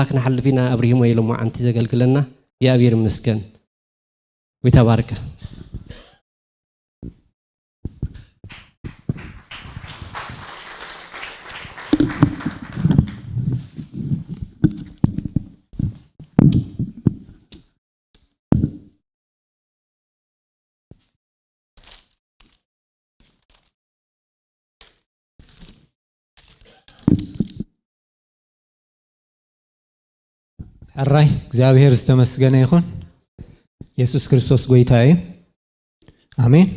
ኣ ክነሓልፍ ኢና ኣብሪሂሞ ሎማዓንቲ ዘገልግለና እግዚኣብሔር ይመስገን ጎይታ ባርካ። ሕራይ እግዚኣብሔር ዝተመስገነ ይኹን የሱስ ክርስቶስ ጎይታ እዩ ኣሜን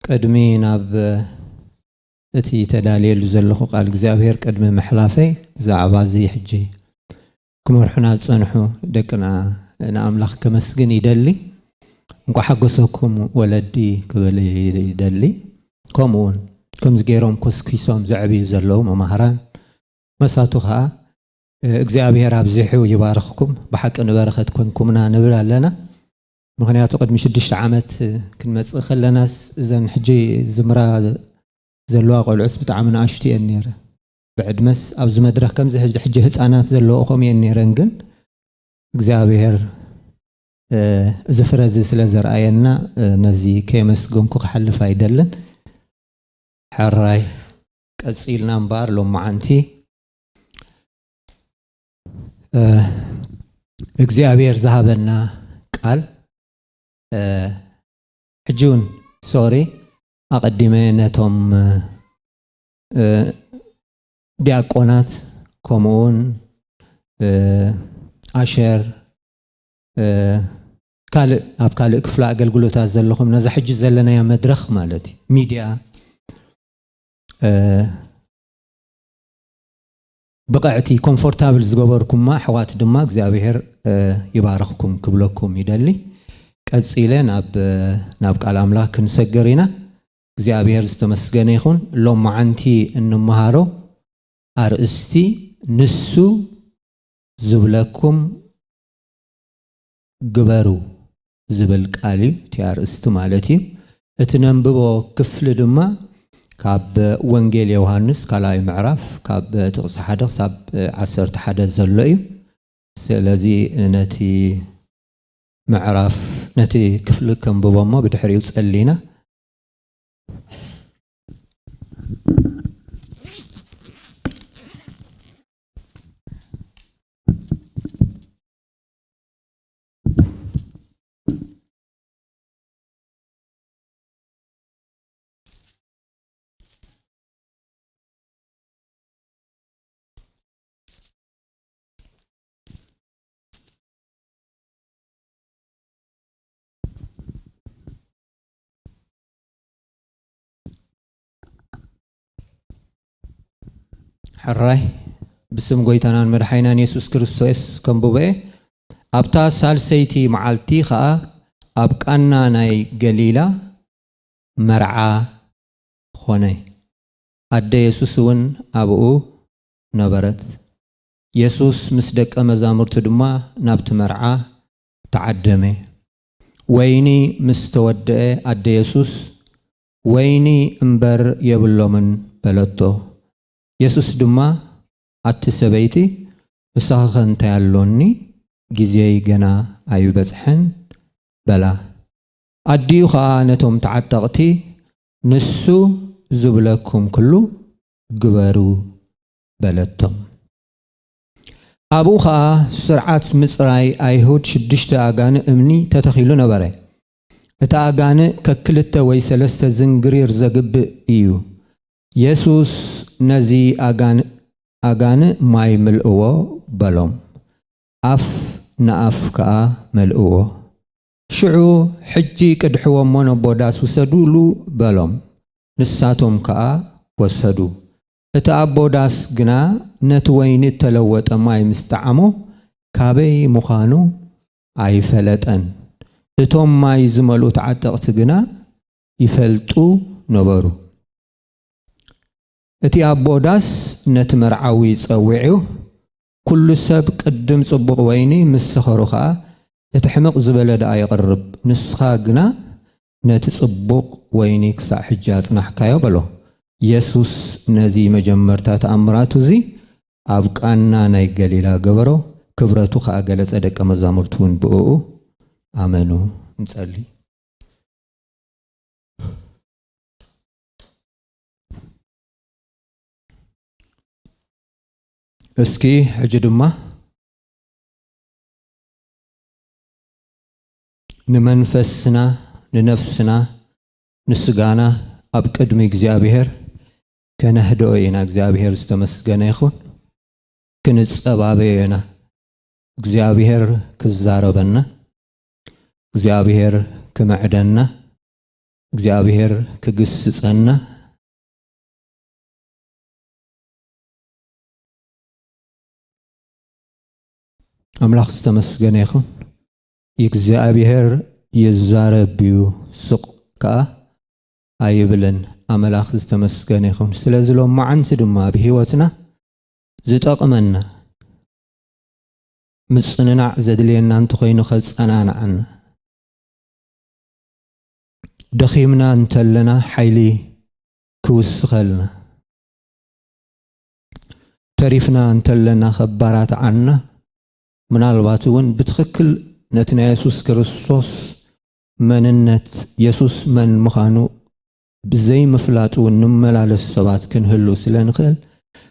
ቅድሚ ናብ እቲ ተዳልየሉ ዘለኹ ቃል እግዚኣብሔር ቅድሚ ምሕላፈይ ብዛዕባ እዚ ሕጂ ክመርሑና ዝጸንሑ ደቅና ንኣምላኽ ከመስግን ይደሊ። እንቋዕ ሓጎሰኩም ወለዲ ክብል ይደሊ። ከምኡውን ከምዚ ገይሮም ኮስኪሶም ዘዕብዩ ዘለዉ መማህራን መሳቱ ከኣ እግዚኣብሔር ኣብዚሑ ይባርኽኩም ብሓቂ ንበረኸት ኮንኩምና ንብል ኣለና። ምክንያቱ ቅድሚ ሽዱሽተ ዓመት ክንመጽእ ከለናስ እዘን ሕጂ ዝምራ ዘለዋ ቆልዑስ ብጣዕሚ ንኣሽቱ እየን ነይረን። ብዕድመስ ኣብዚ መድረኽ ከምዚ ሕዚ ሕጂ ህጻናት ዘለዎ ከምየን ነይረን ግን እግዚኣብሔር እዚ ፍረ እዚ ስለ ዘርኣየና ነዚ ከየመስገንኩ ክሓልፍ ኣይደልን ሕራይ ቀጺልና እምበኣር ሎመዓንቲ እግዚኣብሔር ዝሃበና ቃል ሕጂ እውን ሶሪ ኣቐዲመ ነቶም ዲያቆናት ከምኡ ውን ኣሸር ካልእ ኣብ ካልእ ክፍለ ኣገልግሎታት ዘለኹም ነዛ ሕጂ ዘለናያ መድረኽ ማለት እዩ ሚድያ ብቕዕቲ ኮምፎርታብል ዝገበርኩማ ኣሕዋት ድማ እግዚኣብሄር ይባረኽኩም ክብለኩም ይደሊ ቀፂለ ናብ ቃል ኣምላኽ ክንሰግር ኢና እግዚኣብሔር ዝተመስገነ ይኹን ሎምዓንቲ እንመሃሮ ኣርእስቲ ንሱ ዝብለኩም ግበሩ ዝብል ቃል እዩ እቲ ኣርእስቲ ማለት እዩ እቲ ነንብቦ ክፍሊ ድማ ካብ ወንጌል ዮውሃንስ ካልኣይ ምዕራፍ ካብ ጥቕሲ ሓደ ክሳብ ዓሰርተ ሓደ ዘሎ እዩ ስለዚ ነቲ ምዕራፍ ነቲ ክፍሊ ከንብቦ እሞ ብድሕሪኡ ጸሊና ሕራይ ብስም ጎይታናን መድሓይናን የሱስ ክርስቶስ ከም ቡበኤ ኣብታ ሳልሰይቲ መዓልቲ ኸኣ ኣብ ቃና ናይ ገሊላ መርዓ ኾነ፣ ኣደ የሱስ እውን ኣብኡ ነበረት። የሱስ ምስ ደቀ መዛሙርቱ ድማ ናብቲ መርዓ ተዓደመ። ወይኒ ምስ ተወድአ ኣደ የሱስ፣ ወይኒ እምበር የብሎምን በለቶ። የሱስ ድማ፣ ኣቲ ሰበይቲ፣ ምሳኺኸ እንታይ ኣሎኒ? ግዜይ ገና ኣይበጽሐን በላ። ኣዲኡ ኸኣ ነቶም ተዓጠቕቲ፣ ንሱ ዝብለኩም ኩሉ ግበሩ በለቶም። ኣብኡ ኸኣ ስርዓት ምጽራይ ኣይሁድ ሽዱሽተ ኣጋንእ እምኒ ተተኺሉ ነበረ። እቲ ኣጋንእ ከክልተ ወይ ሰለስተ ዝንግሪር ዘግብእ ኢዩ። የሱስ ነዚ ኣጋንእ ኣጋንእ ማይ ምልእዎ በሎም። ኣፍ ንኣፍ ከኣ መልእዎ። ሽዑ ሕጂ ቅድሕዎ እሞ ነቦ ዳስ ውሰዱሉ በሎም። ንሳቶም ከኣ ወሰዱ። እቲ ኣቦ ዳስ ግና ነቲ ወይኒ እተለወጠ ማይ ምስ ጠዓሞ፣ ካበይ ምዃኑ ኣይፈለጠን። እቶም ማይ ዝመልኡ ተዓጠቕቲ ግና ይፈልጡ ነበሩ። እቲ ኣቦ ዳስ ነቲ መርዓዊ ጸዊዑ፣ ኵሉ ሰብ ቅድም ጽቡቕ ወይኒ፣ ምስ ሰኸሩ ኸኣ እቲ ሕምቕ ዝበለ ደኣ የቕርብ፣ ንስኻ ግና ነቲ ጽቡቕ ወይኒ ኽሳዕ ሕጂ ኣጽናሕካዮ በሎ። የሱስ ነዚ መጀመርታ ተኣምራቱ እዚ ኣብ ቃና ናይ ገሊላ ገበሮ፣ ክብረቱ ኸኣ ገለጸ ደቀ መዛሙርቱ እውን ብእኡ ኣመኑ። ንጸሊ። እስኪ ሕጂ ድማ። ንመንፈስና ንነፍስና ንስጋና ኣብ ቅድሚ እግዚኣብሔር ከነህድኦ ኢና እግዚኣብሔር ዝተመስገነ ይኹን ክንጸባበዮ ኢና እግዚኣብሔር ክዛረበና እግዚኣብሔር ክምዕደና እግዚኣብሔር ክግስጸና ኣምላኽ ዝተመስገነ ይኹን እግዚኣብሄር ይዛረብ እዩ ስቕ ከኣ ኣይብልን ኣመላኽ ዝተመስገነ ይኹን ስለዚ ሎማዓንቲ ድማ ኣብ ሂወትና ዝጠቕመና ምጽንናዕ ዘድልየና እንተኾይኑ ከጸናንዓና ደኺምና እንተለና ሓይሊ ክውስኸልና ተሪፍና እንተለና ከባራት ዓና ምናልባት እውን ብትኽክል ነቲ ናይ የሱስ ክርስቶስ መንነት፣ የሱስ መን ምዃኑ ብዘይ ምፍላጥ እውን ንመላለስ ሰባት ክንህሉ ስለ ንኽእል፣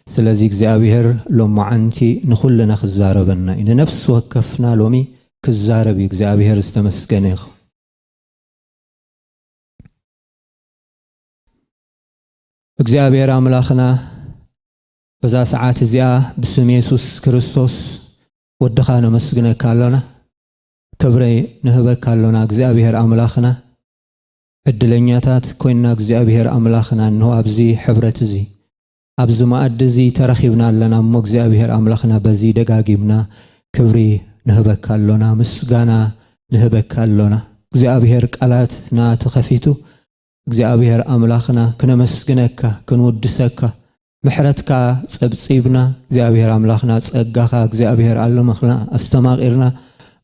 ስለዚ እግዚኣብሄር ሎሞዓንቲ ንኹልና ክዛረበና እዩ። ንነፍሲ ወከፍና ሎሚ ክዛረብ እዩ። እግዚኣብሄር ዝተመስገነ ይኹን። እግዚኣብሔር ኣምላኽና በዛ ሰዓት እዚኣ ብስም የሱስ ክርስቶስ ወድኻ ነመስግነካ ኣሎና ክብሪ ንህበካ ኣሎና እግዚኣብሄር ኣምላኽና ዕድለኛታት ኮይንና እግዚኣብሄር ኣምላኽና እንሆ ኣብዚ ሕብረት እዚ ኣብዚ መኣዲ እዚ ተረኺብና ኣለና እሞ እግዚኣብሄር ኣምላኽና በዚ ደጋጊምና ክብሪ ንህበካ ኣሎና ምስጋና ንህበካ ኣሎና እግዚኣብሄር ቃላትና ተኸፊቱ እግዚኣብሄር ኣምላኽና ክነመስግነካ ክንውድሰካ ምሕረትካ ጸብጺብና እግዚኣብሔር ኣምላኽና ጸጋኻ እግዚኣብሔር ኣለመኽና ኣስተማቂርና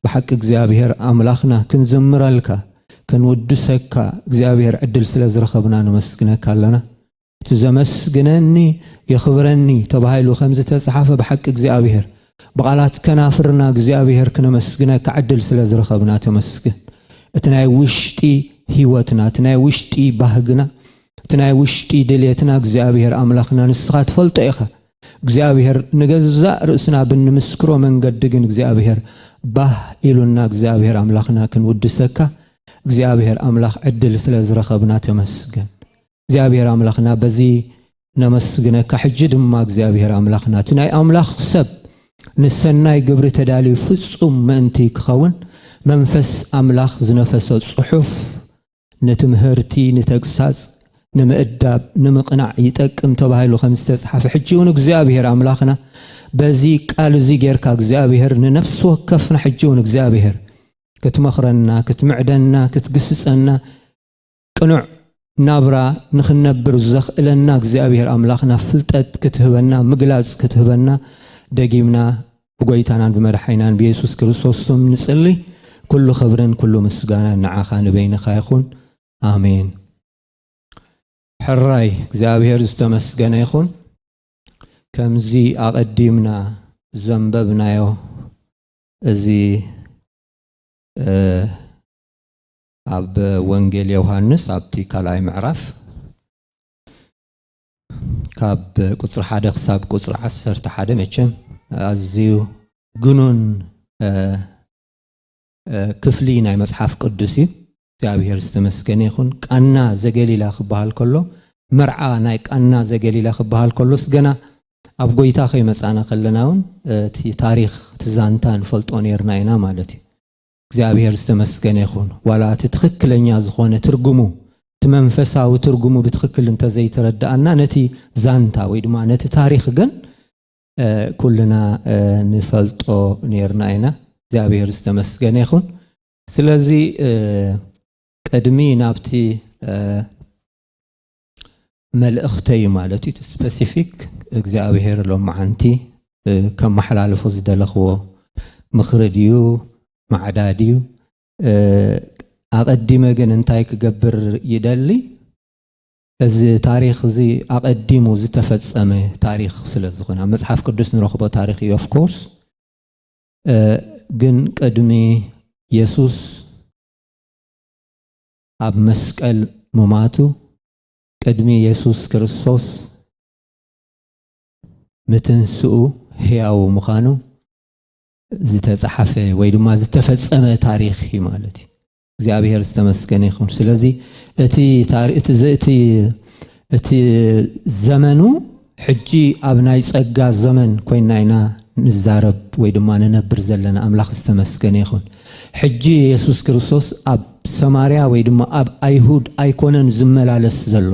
ብሓቂ እግዚኣብሔር ኣምላኽና ክንዝምረልካ ከንውድሰካ እግዚኣብሔር ዕድል ስለ ዝረኸብና ነመስግነካ ኣለና እቲ ዘመስግነኒ የኽብረኒ ተባሂሉ ከም ዝተጽሓፈ ብሓቂ እግዚኣብሔር ብቓላት ከናፍርና እግዚኣብሔር ክነመስግነካ ዕድል ስለ ዝረኸብና ተመስግን እቲ ናይ ውሽጢ ህይወትና እቲ ናይ ውሽጢ ባህግና እቲ ናይ ውሽጢ ድልየትና እግዚኣብሔር ኣምላኽና ንስኻ ትፈልጦ ኢኻ እግዚኣብሔር ንገዛእ ርእስና ብንምስክሮ መንገዲ ግን እግዚኣብሔር ባህ ኢሉና እግዚኣብሔር ኣምላኽና ክንውድሰካ እግዚኣብሔር ኣምላኽ ዕድል ስለ ዝረኸብና ተመስገን እግዚኣብሔር ኣምላኽና በዚ ነመስግነካ ሕጂ ድማ እግዚኣብሔር ኣምላኽና እቲ ናይ ኣምላኽ ሰብ ንሰናይ ግብሪ ተዳልዩ ፍጹም ምእንቲ ክኸውን መንፈስ ኣምላኽ ዝነፈሰ ጽሑፍ ንትምህርቲ፣ ንተግሳጽ፣ ንምእዳብ፣ ንምቕናዕ ይጠቅም ተባሂሉ ከም ዝተጽሓፈ ሕጂ እውን እግዚኣብሄር ኣምላኽና በዚ ቃል እዚ ጌርካ እግዚኣብሄር ንነፍሲ ወከፍና ሕጂ እውን እግዚኣብሄር ክትመኽረና፣ ክትምዕደና፣ ክትግስጸና ቅኑዕ ናብራ ንኽንነብር ዘኽእለና እግዚኣብሄር ኣምላኽና ፍልጠት ክትህበና፣ ምግላጽ ክትህበና ደጊምና ብጎይታናን ብመድሓኒናን ብየሱስ ክርስቶስ ስም ንጽሊ ኩሉ ክብርን ኩሉ ምስጋናን ንዓኻ ንበይንኻ ይኹን ኣሜን ሕራይ እግዚኣብሔር ዝተመስገነ ይኹን ከምዚ ኣቐዲምና ዘንበብናዮ እዚ ኣብ ወንጌል ዮሃንስ ኣብቲ ካልኣይ ምዕራፍ ካብ ቁፅሪ ሓደ ክሳብ ቁፅሪ ዓሰርተ ሓደ መቸም ኣዝዩ ግኑን ክፍሊ ናይ መፅሓፍ ቅዱስ እዩ እግዚኣብሔር ዝተመስገነ ይኹን ቃና ዘገሊላ ክበሃል ከሎ መርዓ ናይ ቃና ዘገሊላ ክበሃል ከሎስ ገና ኣብ ጎይታ ከይመፃና ከለና እውን እቲ ታሪክ እቲ ዛንታ ንፈልጦ ነርና ኢና ማለት እዩ እግዚኣብሔር ዝተመስገነ ይኹን ዋላ እቲ ትኽክለኛ ዝኾነ ትርጉሙ እቲ መንፈሳዊ ትርጉሙ ብትኽክል እንተዘይተረዳኣና ነቲ ዛንታ ወይ ድማ ነቲ ታሪኽ ግን ኩልና ንፈልጦ ነርና ኢና እግዚኣብሔር ዝተመስገነ ይኹን ስለዚ ቅድሚ ናብቲ መልእኽተይ ማለት እዩ ስፐሲፊክ እግዚኣብሄር ሎማዓንቲ ከመሓላልፎ ዝደለኽዎ ምኽሪ ድዩ ማዕዳ ድዩ ኣቐዲመ ግን እንታይ ክገብር ይደሊ እዚ ታሪኽ እዚ ኣቐዲሙ ዝተፈጸመ ታሪኽ ስለ ዝኾነ ኣብ መጽሓፍ ቅዱስ ንረኽቦ ታሪኽ እዩ ኦፍኮርስ ግን ቅድሚ የሱስ ኣብ መስቀል ሙማቱ ቅድሚ የሱስ ክርስቶስ ምትንስኡ ህያዉ ምኻኑ ዝተጻሓፈ ወይ ድማ ዝተፈጸመ ታሪኽ እዩ ማለት እዩ። እግዚኣብሔር ዝተመስገነ ይኹን። ስለዚ እቲ ዘመኑ ሕጂ ኣብ ናይ ጸጋ ዘመን ኮይና ኢና ንዛረብ ወይ ድማ ንነብር ዘለና ኣምላኽ ዝተመስገነ ይኹን። ሕጂ የሱስ ክርስቶስ ኣብ ሰማርያ ወይ ድማ ኣብ ኣይሁድ ኣይኮነን ዝመላለስ ዘሎ።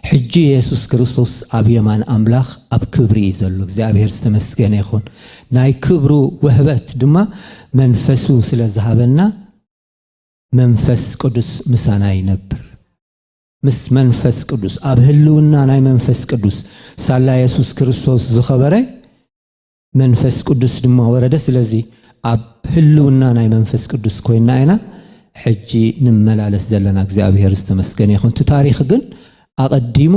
ሕጂ የሱስ ክርስቶስ ኣብ የማን ኣምላኽ ኣብ ክብሪ እዩ ዘሎ። እግዚኣብሄር ዝተመስገነ ይኹን። ናይ ክብሩ ውህበት ድማ መንፈሱ ስለ ዝሃበና መንፈስ ቅዱስ ምሳና ይነብር። ምስ መንፈስ ቅዱስ ኣብ ህልውና ናይ መንፈስ ቅዱስ ሳላ የሱስ ክርስቶስ ዝኸበረ መንፈስ ቅዱስ ድማ ወረደ ስለዚ ኣብ ህልውና ናይ መንፈስ ቅዱስ ኮይና ኢና ሕጂ ንመላለስ ዘለና እግዚኣብሄር ዝተመስገነ ይኹን እቲ ታሪክ ግን ኣቐዲሙ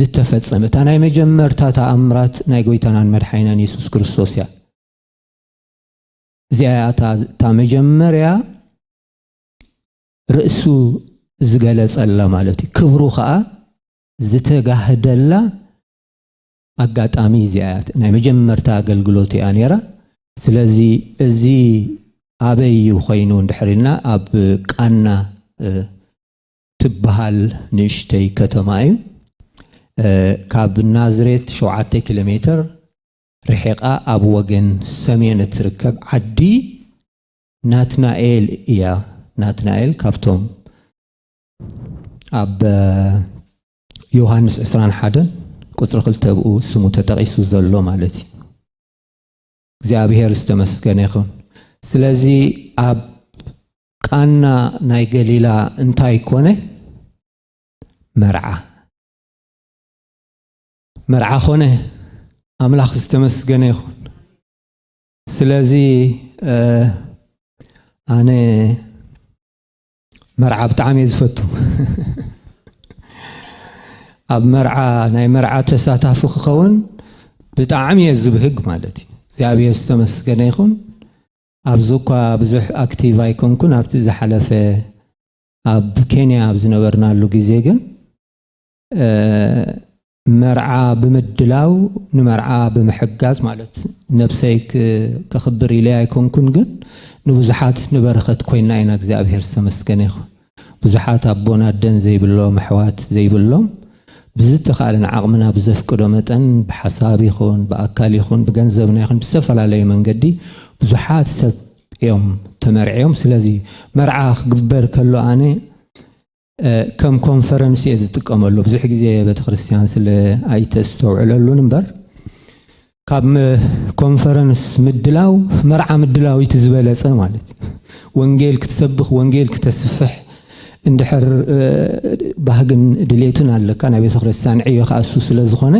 ዝተፈጸመ እታ ናይ መጀመርታ ተኣምራት ናይ ጎይታናን መድሓይናን የሱስ ክርስቶስ እያ እዚኣ እታ መጀመርያ ርእሱ ዝገለጸላ ማለት እዩ። ክብሩ ከኣ ዝተጋህደላ ኣጋጣሚ እዚኣ እያ። ናይ መጀመርታ ኣገልግሎት እያ ነይራ። ስለዚ እዚ ኣበይ እዩ ኮይኑ እንድሕር ኢልና ኣብ ቃና ትበሃል ንእሽተይ ከተማ እዩ። ካብ ናዝሬት ሸውዓተ ኪሎ ሜትር ርሒቓ ኣብ ወገን ሰሜን እትርከብ ዓዲ ናትናኤል እያ ናትናኤል ካብቶም ኣብ ዮሃንስ 21 ቁፅሪ ክልተ ብኡ ስሙ ተጠቒሱ ዘሎ ማለት እዩ እግዚኣብሔር ዝተመስገነ ይኹን ስለዚ ኣብ ቃና ናይ ገሊላ እንታይ ኮነ መርዓ መርዓ ኮነ ኣምላኽ ዝተመስገነ ይኹን ስለዚ ኣነ መርዓ ብጣዕሚ እየ ዝፈቱ ኣብ መርዓ ናይ መርዓ ተሳታፊ ክኸውን ብጣዕሚ እየ ዝብህግ ማለት እዩ እግዚኣብሔር ዝተመስገነ ይኹን ኣብዚ እኳ ብዙሕ ኣክቲቭ ኣይኮንኩን ኣብቲ ዝሓለፈ ኣብ ኬንያ ኣብ ዝነበርናሉ ግዜ ግን መርዓ ብምድላው ንመርዓ ብምሕጋዝ ማለት ነብሰይ ከኽብር ኢለይ ኣይኮንኩን ግን ንብዙሓት ንበረኸት ኮይና ኢና እግዚኣብሔር ዝተመስገነ ይኹን ብዙሓት ኣቦን ኣደን ዘይብሎም ኣሕዋት ዘይብሎም ብዝተኻለን ዓቕምና ብዘፍቅዶ መጠን ብሓሳብ ይኹን ብኣካል ይኹን ብገንዘብና ይኹን ብዝተፈላለዩ መንገዲ ብዙሓት ሰብ እዮም ተመርዕዮም ስለዚ መርዓ ክግበር ከሎ ኣነ ከም ኮንፈረንስ እየ ዝጥቀመሉ ብዙሕ ግዜ ቤተክርስትያን ስለ ኣይተስተውዕለሉን እምበር ካብ ኮንፈረንስ ምድላው መርዓ ምድላው እቲ ዝበለፀ ማለት ወንጌል ክትሰብኽ ወንጌል ክተስፍሕ እንድሕር ባህግን ድሌትን ኣለካ ናይ ቤተ ክርስትያን ዕዮ ከዓ እሱ ስለ ዝኾነ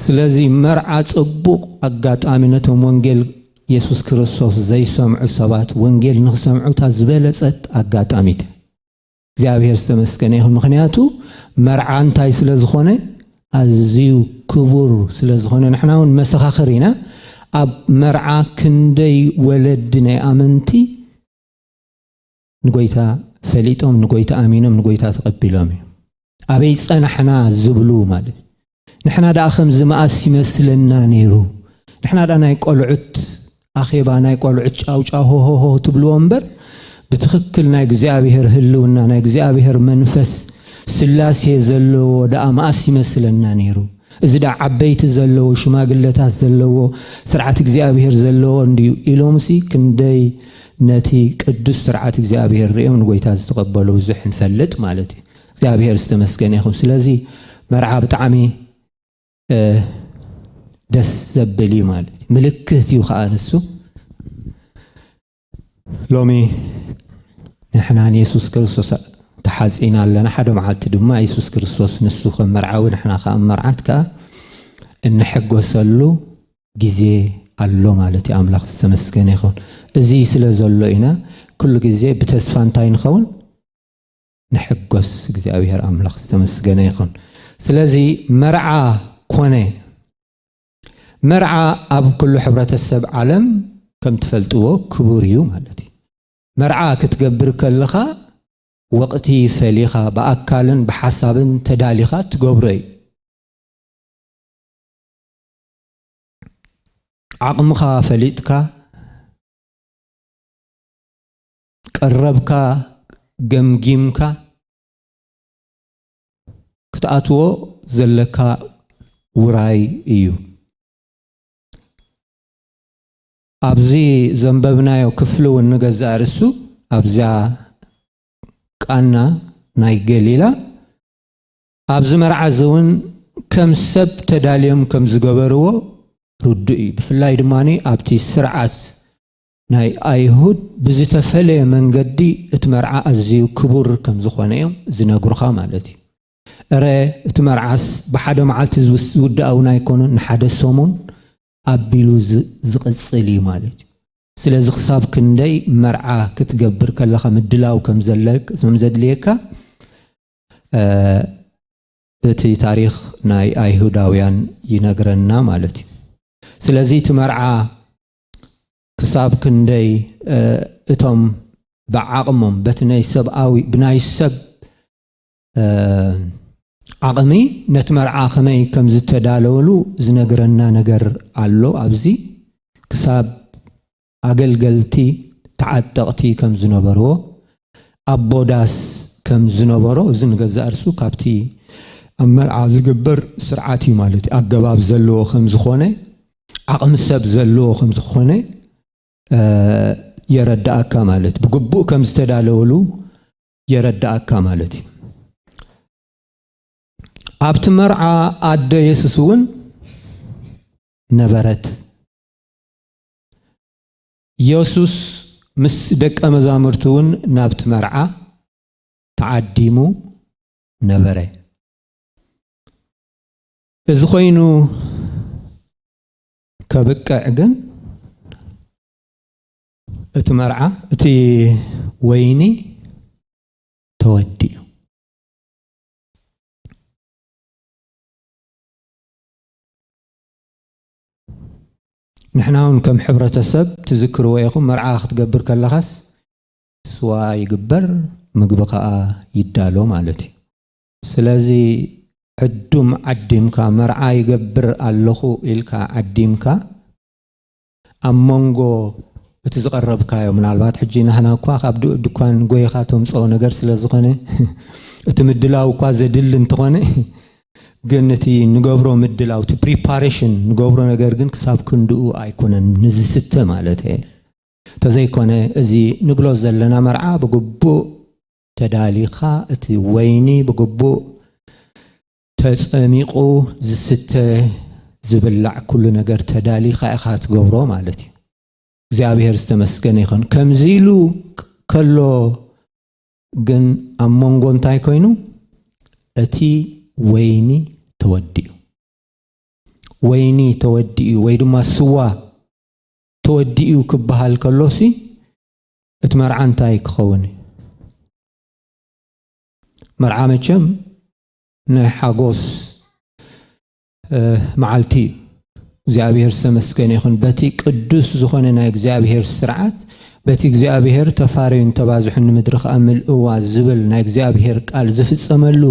ስለዚ መርዓ ፅቡቕ ኣጋጣሚ ነቶም ወንጌል የሱስ ክርስቶስ ዘይሰምዑ ሰባት ወንጌል ንክሰምዑ እታ ዝበለፀት ኣጋጣሚት እግዚኣብሔር ዝተመስገነ ይኹን። ምክንያቱ መርዓ እንታይ ስለ ዝኾነ ኣዝዩ ክቡር ስለ ዝኾነ ንሕና እውን መሰኻኽር ኢና። ኣብ መርዓ ክንደይ ወለዲ ናይ ኣመንቲ ንጎይታ ፈሊጦም ንጎይታ ኣሚኖም ንጎይታ ተቐቢሎም እዩ ኣበይ ጸናሕና ዝብሉ ማለት ንሕና ደኣ ከምዚ መኣስ ይመስለና ነይሩ ንሕና ደኣ ናይ ቆልዑት ኣኼባ ናይ ቆልዑት ጫውጫው ሆሆሆ ትብልዎ እምበር ብትኽክል ናይ እግዚኣብሔር ህልውና ናይ እግዚኣብሔር መንፈስ ስላሴ ዘለዎ ደኣ መኣስ ይመስለና ነይሩ እዚ ደኣ ዓበይቲ ዘለዎ ሽማግለታት ዘለዎ ስርዓት እግዚኣብሔር ዘለዎ እንድዩ ኢሎምሲ ክንደይ ነቲ ቅዱስ ስርዓት እግዚኣብሔር ርእዮም ንጎይታ ዝተቐበሉ ብዙሕ ንፈልጥ ማለት እዩ እግዚኣብሔር ዝተመስገነ ይኹን ስለዚ መርዓ ብጣዕሚ ደስ ዘብል እዩ ማለት እዩ ምልክት እዩ ከዓ ንሱ ሎሚ ንሕና ንየሱስ ክርስቶስ ተሓፂና ኣለና ሓደ መዓልቲ ድማ የሱስ ክርስቶስ ንሱ ከም መርዓዊ ንሕና ከዓ መርዓት ከዓ እንሕጎሰሉ ግዜ ኣሎ ማለት እዩ ኣምላኽ ዝተመስገነ ይኸውን እዚ ስለ ዘሎ ኢና ኩሉ ግዜ ብተስፋ እንታይ ንኸውን ንሕጎስ እግዚኣብሔር ኣምላኽ ዝተመስገነ ይኹን ስለዚ መርዓ ኮነ መርዓ ኣብ ኩሉ ሕብረተሰብ ዓለም ከም ትፈልጥዎ ክቡር እዩ ማለት እዩ መርዓ ክትገብር ከለኻ ወቕቲ ፈሊኻ ብኣካልን ብሓሳብን ተዳሊኻ ትገብሮ እዩ ዓቕምኻ ፈሊጥካ ቀረብካ ገምጊምካ ክትኣትዎ ዘለካ ውራይ እዩ። ኣብዚ ዘንበብናዮ ክፍሊ እውን ንገዛእ ርእሱ ኣብዛ ቃና ናይ ገሊላ ኣብዚ መርዓ እዚ እውን ከም ሰብ ተዳልዮም ከም ዝገበርዎ ርዱእ እዩ። ብፍላይ ድማ ኣብቲ ስርዓት ናይ ኣይሁድ ብዝተፈለየ መንገዲ እቲ መርዓ ኣዝዩ ክቡር ከም ዝዀነ እዮም ዝነግሩኻ ማለት እዩ። እረ እቲ መርዓስ ብሓደ መዓልቲ ዝውዳእ እውን ኣይኰነን፣ ንሓደ ሰሙን ኣቢሉ ዝቕጽል እዩ ማለት እዩ። ስለዚ ክሳብ ክንደይ መርዓ ክትገብር ከለኻ ምድላው ከም ዘድልየካ እቲ ታሪኽ ናይ ኣይሁዳውያን ይነግረና ማለት እዩ። ስለዚ እቲ መርዓ ክሳብ ክንደይ እቶም ብዓቕሞም በቲ ናይ ሰብኣዊ ብናይ ሰብ ዓቕሚ ነቲ መርዓ ከመይ ከም ዝተዳለወሉ ዝነግረና ነገር ኣሎ ኣብዚ ክሳብ ኣገልገልቲ ተዓጠቕቲ ከም ዝነበርዎ ኣቦ ዳስ ከም ዝነበሮ እዚ ንገዛእ ርሱ ካብቲ ኣብ መርዓ ዝግበር ስርዓት እዩ ማለት እዩ ኣገባብ ዘለዎ ከም ዝኾነ ዓቕሚ ሰብ ዘለዎ ከም ዝኾነ የረዳእካ ማለት ብግቡእ ከም ዝተዳለወሉ የረዳእካ ማለት እዩ ኣብቲ መርዓ ኣደ የሱስ እውን ነበረት የሱስ ምስ ደቀ መዛሙርቱ እውን ናብቲ መርዓ ተዓዲሙ ነበረ እዚ ኮይኑ ከብቅዕ ግን እቲ መርዓ እቲ ወይኒ ተወዲኡ ንሕና እውን ከም ሕብረተሰብ ትዝክርዎ ኢኹም መርዓ ክትገብር ከለኻስ ስዋ ይግበር ምግቢ ከዓ ይዳሎ ማለት እዩ ስለዚ ዕዱም ዓዲምካ መርዓ ይገብር ኣለኹ ኢልካ ዓዲምካ ኣብ መንጎ እቲ ዝቐረብካዮ ምናልባት ሕጂ ናህና እኳ ካብ ድኳን ጎይኻ ተምጽኦ ነገር ስለ ዝኾነ እቲ ምድላው እኳ ዘድሊ እንተኾነ ግን እቲ ንገብሮ ምድላው እቲ ፕሪፓሬሽን ንገብሮ ነገር ግን ክሳብ ክንድኡ ኣይኮነን ንዝስተ ማለት እየ ተዘይኮነ እዚ ንብሎ ዘለና መርዓ ብግቡእ ተዳሊኻ እቲ ወይኒ ብግቡእ ተጸሚቑ ዝስተ ዝብላዕ ኩሉ ነገር ተዳሊኻ ኢኻ ትገብሮ ማለት እዩ። እግዚኣብሔር ዝተመስገነ ይኹን። ከምዚ ኢሉ ከሎ ግን ኣብ መንጎ እንታይ ኮይኑ እቲ ወይኒ ተወዲኡ ወይኒ ተወዲኡ ወይ ድማ ስዋ ተወዲኡ ክበሃል ከሎሲ እቲ መርዓ እንታይ ክኸውን እዩ? መርዓ መቸም ናይ ሓጎስ መዓልቲ እዩ። እግዚኣብሔር ዝተመስገነ ይኹን በቲ ቅዱስ ዝኾነ ናይ እግዚኣብሔር ስርዓት በቲ እግዚኣብሔር ተፋረዩን ተባዝሑን ንምድሪ ከዓ ምልእዋ ዝብል ናይ እግዚኣብሔር ቃል ዝፍፀመሉ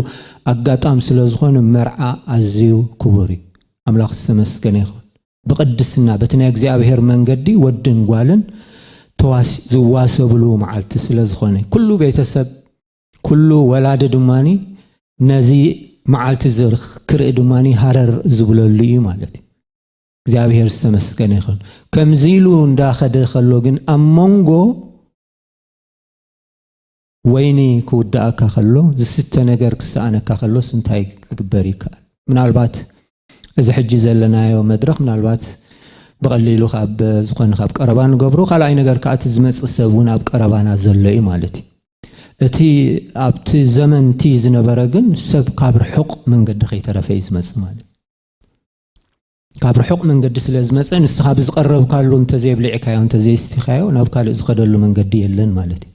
ኣጋጣም ስለ ዝኾነ መርዓ ኣዝዩ ክቡር እዩ ኣምላኽ ዝተመስገነ ይኹን ብቅድስና በቲ ናይ እግዚኣብሔር መንገዲ ወድን ጓልን ተዋስ ዝዋሰብሉ መዓልቲ ስለ ዝኾነ ኩሉ ቤተሰብ ኩሉ ወላዲ ድማ ነዚ መዓልቲ እዚ ክርኢ ድማ ሃረር ዝብለሉ እዩ ማለት እዩ እግዚኣብሔር ዝተመስገነ ይኹን ከምዚ ኢሉ እንዳኸደ ከሎ ግን ኣብ መንጎ ወይኒ ክውድኣካ ከሎ፣ ዝስተ ነገር ክሰኣነካ ከሎስ እንታይ ክግበር ይከኣል? ምናልባት እዚ ሕጂ ዘለናዮ መድረኽ ምናልባት ብቐሊሉ ካብ ዝኾነ ካብ ቀረባ ንገብሮ፣ ካልኣይ ነገር ከኣ እቲ ዝመጽእ ሰብ እውን ኣብ ቀረባና ዘሎ እዩ ማለት እዩ። እቲ ኣብቲ ዘመን እቲ ዝነበረ ግን ሰብ ካብ ርሑቕ መንገዲ ከይተረፈ እዩ ዝመጽእ ማለት እዩ። ካብ ርሑቕ መንገዲ ስለ ዝመጸ ንስኻ ብዝቐረብካሉ እንተዘይኣብሊዕካዮ እንተዘይስቲኻዮ ናብ ካልእ ዝኸደሉ መንገዲ የለን ማለት እዩ።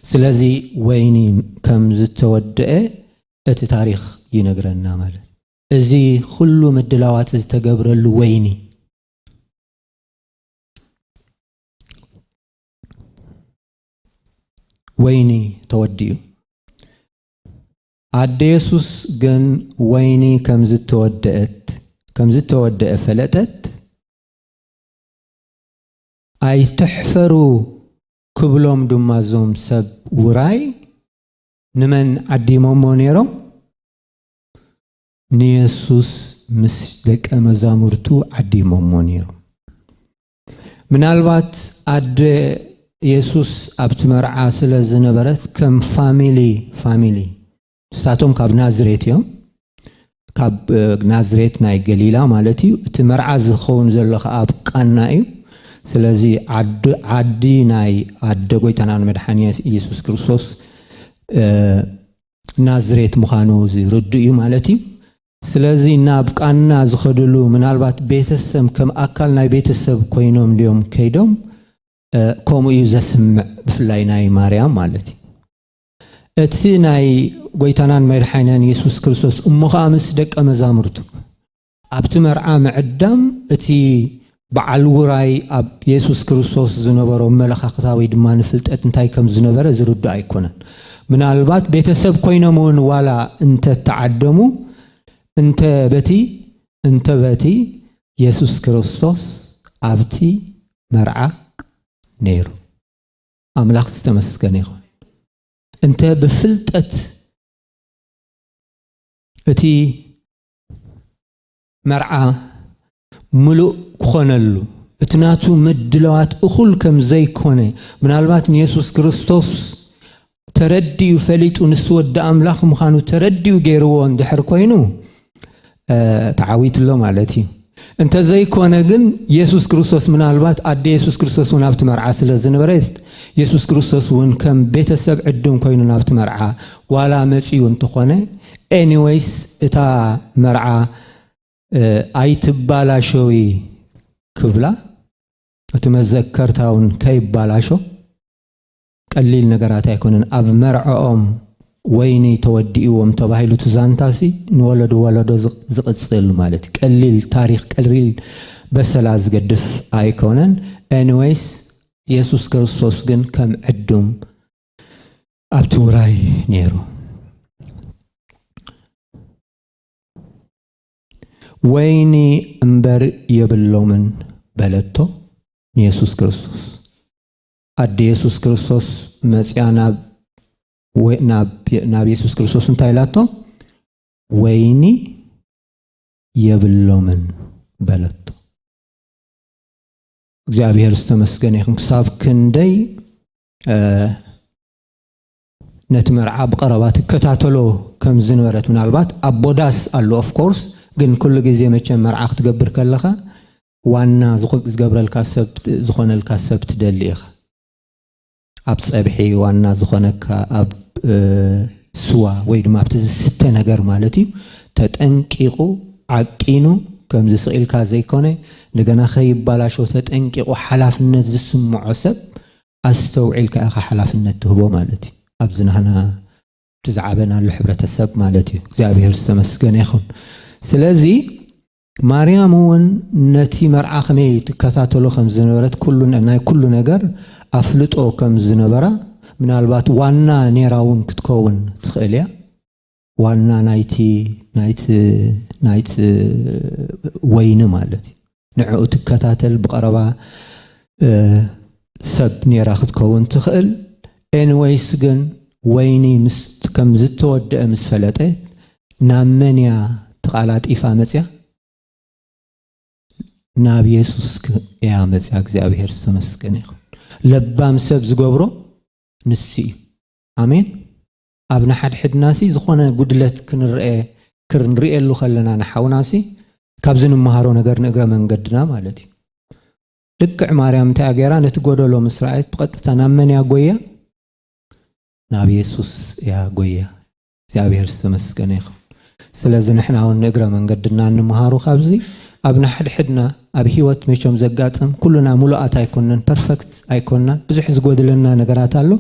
ስለዚ ወይኒ ከም ዝተወደአ እቲ ታሪኽ ይነግረና ማለት እዚ ኩሉ ምድላዋት ዝተገብረሉ ወይኒ ወይኒ ተወዲኡ ኣደ የሱስ ግን ወይኒ ከም ዝተወደእት ከም ዝተወደኤ ፈለጠት። ኣይትሕፈሩ ክብሎም ድማ እዞም ሰብ ውራይ ንመን ዓዲሞሞ ነይሮም? ንየሱስ ምስ ደቀ መዛሙርቱ ዓዲሞሞ ነይሮም። ምናልባት ኣደ የሱስ ኣብቲ መርዓ ስለ ዝነበረት ከም ፋሚሊ ፋሚሊ ንሳቶም ካብ ናዝሬት እዮም ካብ ናዝሬት ናይ ገሊላ ማለት እዩ እቲ መርዓ ዝኸውን ዘሎ ከዓ ኣብ ቃና እዩ ስለዚ ዓዲ ናይ ኣደ ጎይታና ንመድሓኒ ኢየሱስ ክርስቶስ ናዝሬት ምዃኑ ዝርድእ እዩ ማለት እዩ ስለዚ ናብ ቃና ዝኸድሉ ምናልባት ቤተሰም ከም ኣካል ናይ ቤተሰብ ኮይኖም ድዮም ከይዶም ከምኡ እዩ ዘስምዕ ብፍላይ ናይ ማርያም ማለት እዩ እቲ ናይ ጎይታናን መድሓኒናን የሱስ ክርስቶስ እሞ ኸኣ ምስ ደቀ መዛሙርቱ ኣብቲ መርዓ ምዕዳም እቲ በዓል ውራይ ኣብ የሱስ ክርስቶስ ዝነበሮ ኣመለኻኽታ ወይ ድማ ንፍልጠት እንታይ ከም ዝነበረ ዝርዱእ ኣይኮነን። ምናልባት ቤተሰብ ኮይኖም እውን ዋላ እንተ ተዓደሙ እንተ በቲ እንተ በቲ የሱስ ክርስቶስ ኣብቲ መርዓ ነይሩ። ኣምላኽ ዝተመስገነ ይኹን። እንተ ብፍልጠት እቲ መርዓ ምሉእ ክኾነሉ እቲ ናቱ ምድለዋት እኹል ከም ዘይኮነ ምናልባት ንየሱስ ክርስቶስ ተረዲኡ ፈሊጡ ንሱ ወዲ ኣምላኽ ምዃኑ ተረዲኡ ገይርዎ እንድሕር ኮይኑ ተዓዊትሎ ማለት እዩ እንተዘይኮነ ግን የሱስ ክርስቶስ ምናልባት ኣደ የሱስ ክርስቶስ እውን ኣብቲ መርዓ ስለ ዝነበረት የሱስ ክርስቶስ እውን ከም ቤተሰብ ዕዱም ኮይኑ ናብቲ መርዓ ዋላ መፅኡ እንተኾነ ኤኒወይስ እታ መርዓ ኣይትባላሾዊ ክብላ እቲ መዘከርታ ውን ከይባላሾ ቀሊል ነገራት ኣይኮነን ኣብ መርዕኦም ወይኒ ተወዲእዎም ተባሂሉ እቲ ዛንታሲ ንወለዶ ወለዶ ዝቕፅል ማለት እዩ ቀሊል ታሪክ ቀሊል በሰላ ዝገድፍ ኣይኮነን ኤኒወይስ የሱስ ክርስቶስ ግን ከም ዕዱም ኣብቲ ውራይ ነይሩ ወይኒ እምበር የብሎምን በለቶ ንየሱስ ክርስቶስ ኣደ የሱስ ክርስቶስ መፅያ ናብ የሱስ ክርስቶስ እንታይ ኢላቶ ወይኒ የብሎምን በለቶ እግዚኣብሔር ዝተመስገነ ይኹን ክሳብ ክንደይ ነቲ መርዓ ብቐረባ ትከታተሎ ከም ዝነበረት ምናልባት ኣቦ ዳስ ኣሉ ኦፍ ኮርስ ግን ኩሉ ግዜ መቸም መርዓ ክትገብር ከለኻ ዋና ዝገብረልካ ሰብ ዝኾነልካ ሰብ ትደሊ ኢኻ ኣብ ፀብሒ ዋና ዝኾነካ ኣብ ስዋ ወይ ድማ ኣብቲ ዝስተ ነገር ማለት እዩ ተጠንቂቑ ዓቂኑ ከም ዝስኢልካ ዘይኮነ እንደገና ከይባላሾ ተጠንቂቑ ሓላፍነት ዝስምዖ ሰብ ኣስተውዒልካ ኢኻ ሓላፍነት ትህቦ ማለት እዩ ኣብዚ ናህና እቲ ዝዓበናሉ ሕብረተሰብ ማለት እዩ እግዚኣብሔር ዝተመስገነ ይኹን ስለዚ ማርያም እውን ነቲ መርዓ ከመይ ትከታተሎ ከም ዝነበረት ኩሉ ናይ ኩሉ ነገር ኣፍልጦ ከም ዝነበራ ምናልባት ዋና ኔራ እውን ክትከውን ትኽእል እያ ዋና ናይቲ ናይቲ ናይቲ ወይኒ ማለት እዩ ንዕኡ ትከታተል ብቐረባ ሰብ ኔራ ክትከውን ትኽእል ኤንወይስ ግን ወይኒ ከም ዝተወደአ ምስ ፈለጠ ናብ መን እያ ተቓላጢፋ መፅያ ናብ የሱስ እያ መፅያ እግዚኣብሔር ዝተመስገነ ይኹን ለባም ሰብ ዝገብሮ ንሱ እዩ ኣሜን ኣብ ንሓድሕድናሲ ዝኾነ ጉድለት ክንረኤ ክንርእየሉ ከለና ንሓውናሲ ካብዚ ንመሃሮ ነገር ንእግረ መንገድና ማለት እዩ ልክዕ ማርያም እንታይ ገይራ ነቲ ጎደሎ ምስ ረኣየት ብቐጥታ ናብ መን እያ ጎያ ናብ የሱስ እያ ጎያ እግዚኣብሔር ዝተመስገነ ይኸውን ስለዚ ንሕና ውን ንእግረ መንገድና እንምሃሮ ካብዚ ኣብ ንሓድሕድና ኣብ ሂወት መቸም ዘጋጥም ኩሉና ሙሉኣት ኣይኮናን perfect ኣይኮናን ብዙሕ ዝጎድለና ነገራት ኣሎ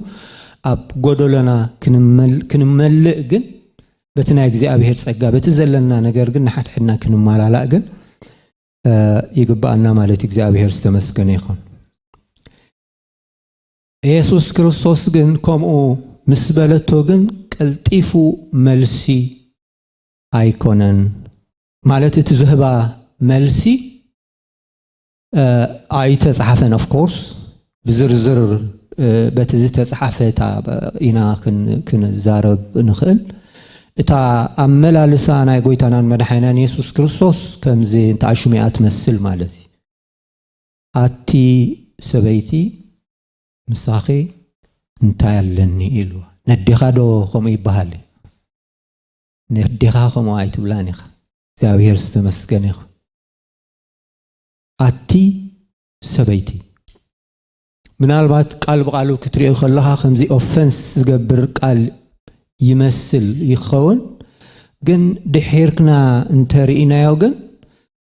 ኣብ ጎዶሎና ክንመልእ ግን በቲ ናይ እግዚኣብሄር ጸጋ በቲ ዘለና ነገር ግን ንሓድሕድና ክንማላላእ ግን ይግብኣና ማለት እዩ እግዚኣብሄር ዝተመስገነ ይኹን። የሱስ ክርስቶስ ግን ከምኡ ምስ በለቶ ግን ቀልጢፉ መልሲ ኣይኮነን ማለት እቲ ዝህባ መልሲ ኣይተጻሓፈን ኦፍ ኮርስ ብዝርዝር በቲ ዝተጻሓፈ እታ ኢና ክንዛረብ ንኽእል እታ ኣመላልሳ ናይ ጎይታናን መድሓይናን የሱስ ክርስቶስ ከምዚ እንተኣሽሚኣ ትመስል ማለት እዩ ኣቲ ሰበይቲ ምሳኺ እንታይ ኣለኒ ኢሉ ነዴኻ ዶ ከምኡ ይበሃል ነዴኻ ከምኡ ኣይትብላን ኢኻ እግዚኣብሔር ዝተመስገነ ይኹን ኣቲ ሰበይቲ ምናልባት ቃል ብቃሉ ክትሪኦ ከለኻ ከምዚ ኦፈንስ ዝገብር ቃል ይመስል ይኸውን ግን ድሒርክና እንተርኢናዮ ግን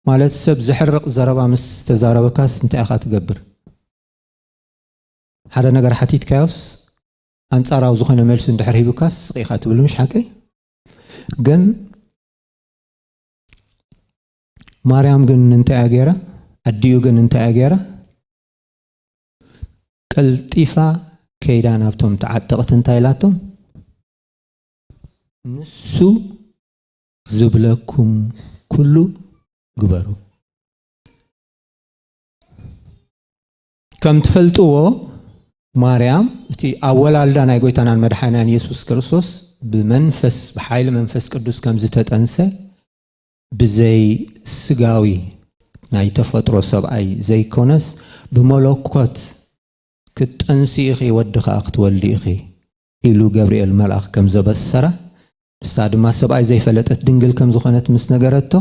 ማለት ሰብ ዘሕርቕ ዘረባ ምስ ተዛረበካስ እንታይ ኢኻ ትገብር? ሓደ ነገር ሓቲትካዮስ ኣንጻራዊ ዝኾነ መልሲ እንድሕር ሂቡካስ ስቕ ኢኻ ትብል ምሽ ሓቀይ ግን ማርያም ግን እንታይ እያ ገይራ? ኣዲኡ ግን እንታይ እያ ገይራ? ቀልጢፋ ከይዳ ናብቶም ተዓጠቕቲ እንታይ ኢላቶም ንሱ ዝብለኩም ኩሉ ግበሩ። ከም ትፈልጥዎ ማርያም እቲ ኣወላልዳ ናይ ጎይታናን መድሓናን ኢየሱስ ክርስቶስ ብመንፈስ ብሓይሊ መንፈስ ቅዱስ ከም ዝተጠንሰ ብዘይ ስጋዊ ናይ ተፈጥሮ ሰብኣይ ዘይኮነስ ብመለኮት ክትጠንሲ ኢኺ ወዲ ከዓ ክትወልዲ ኢኺ ኢሉ ገብርኤል መልኣኽ ከም ዘበሰራ፣ ንሳ ድማ ሰብኣይ ዘይፈለጠት ድንግል ከም ዝኾነት ምስ ነገረቶ፣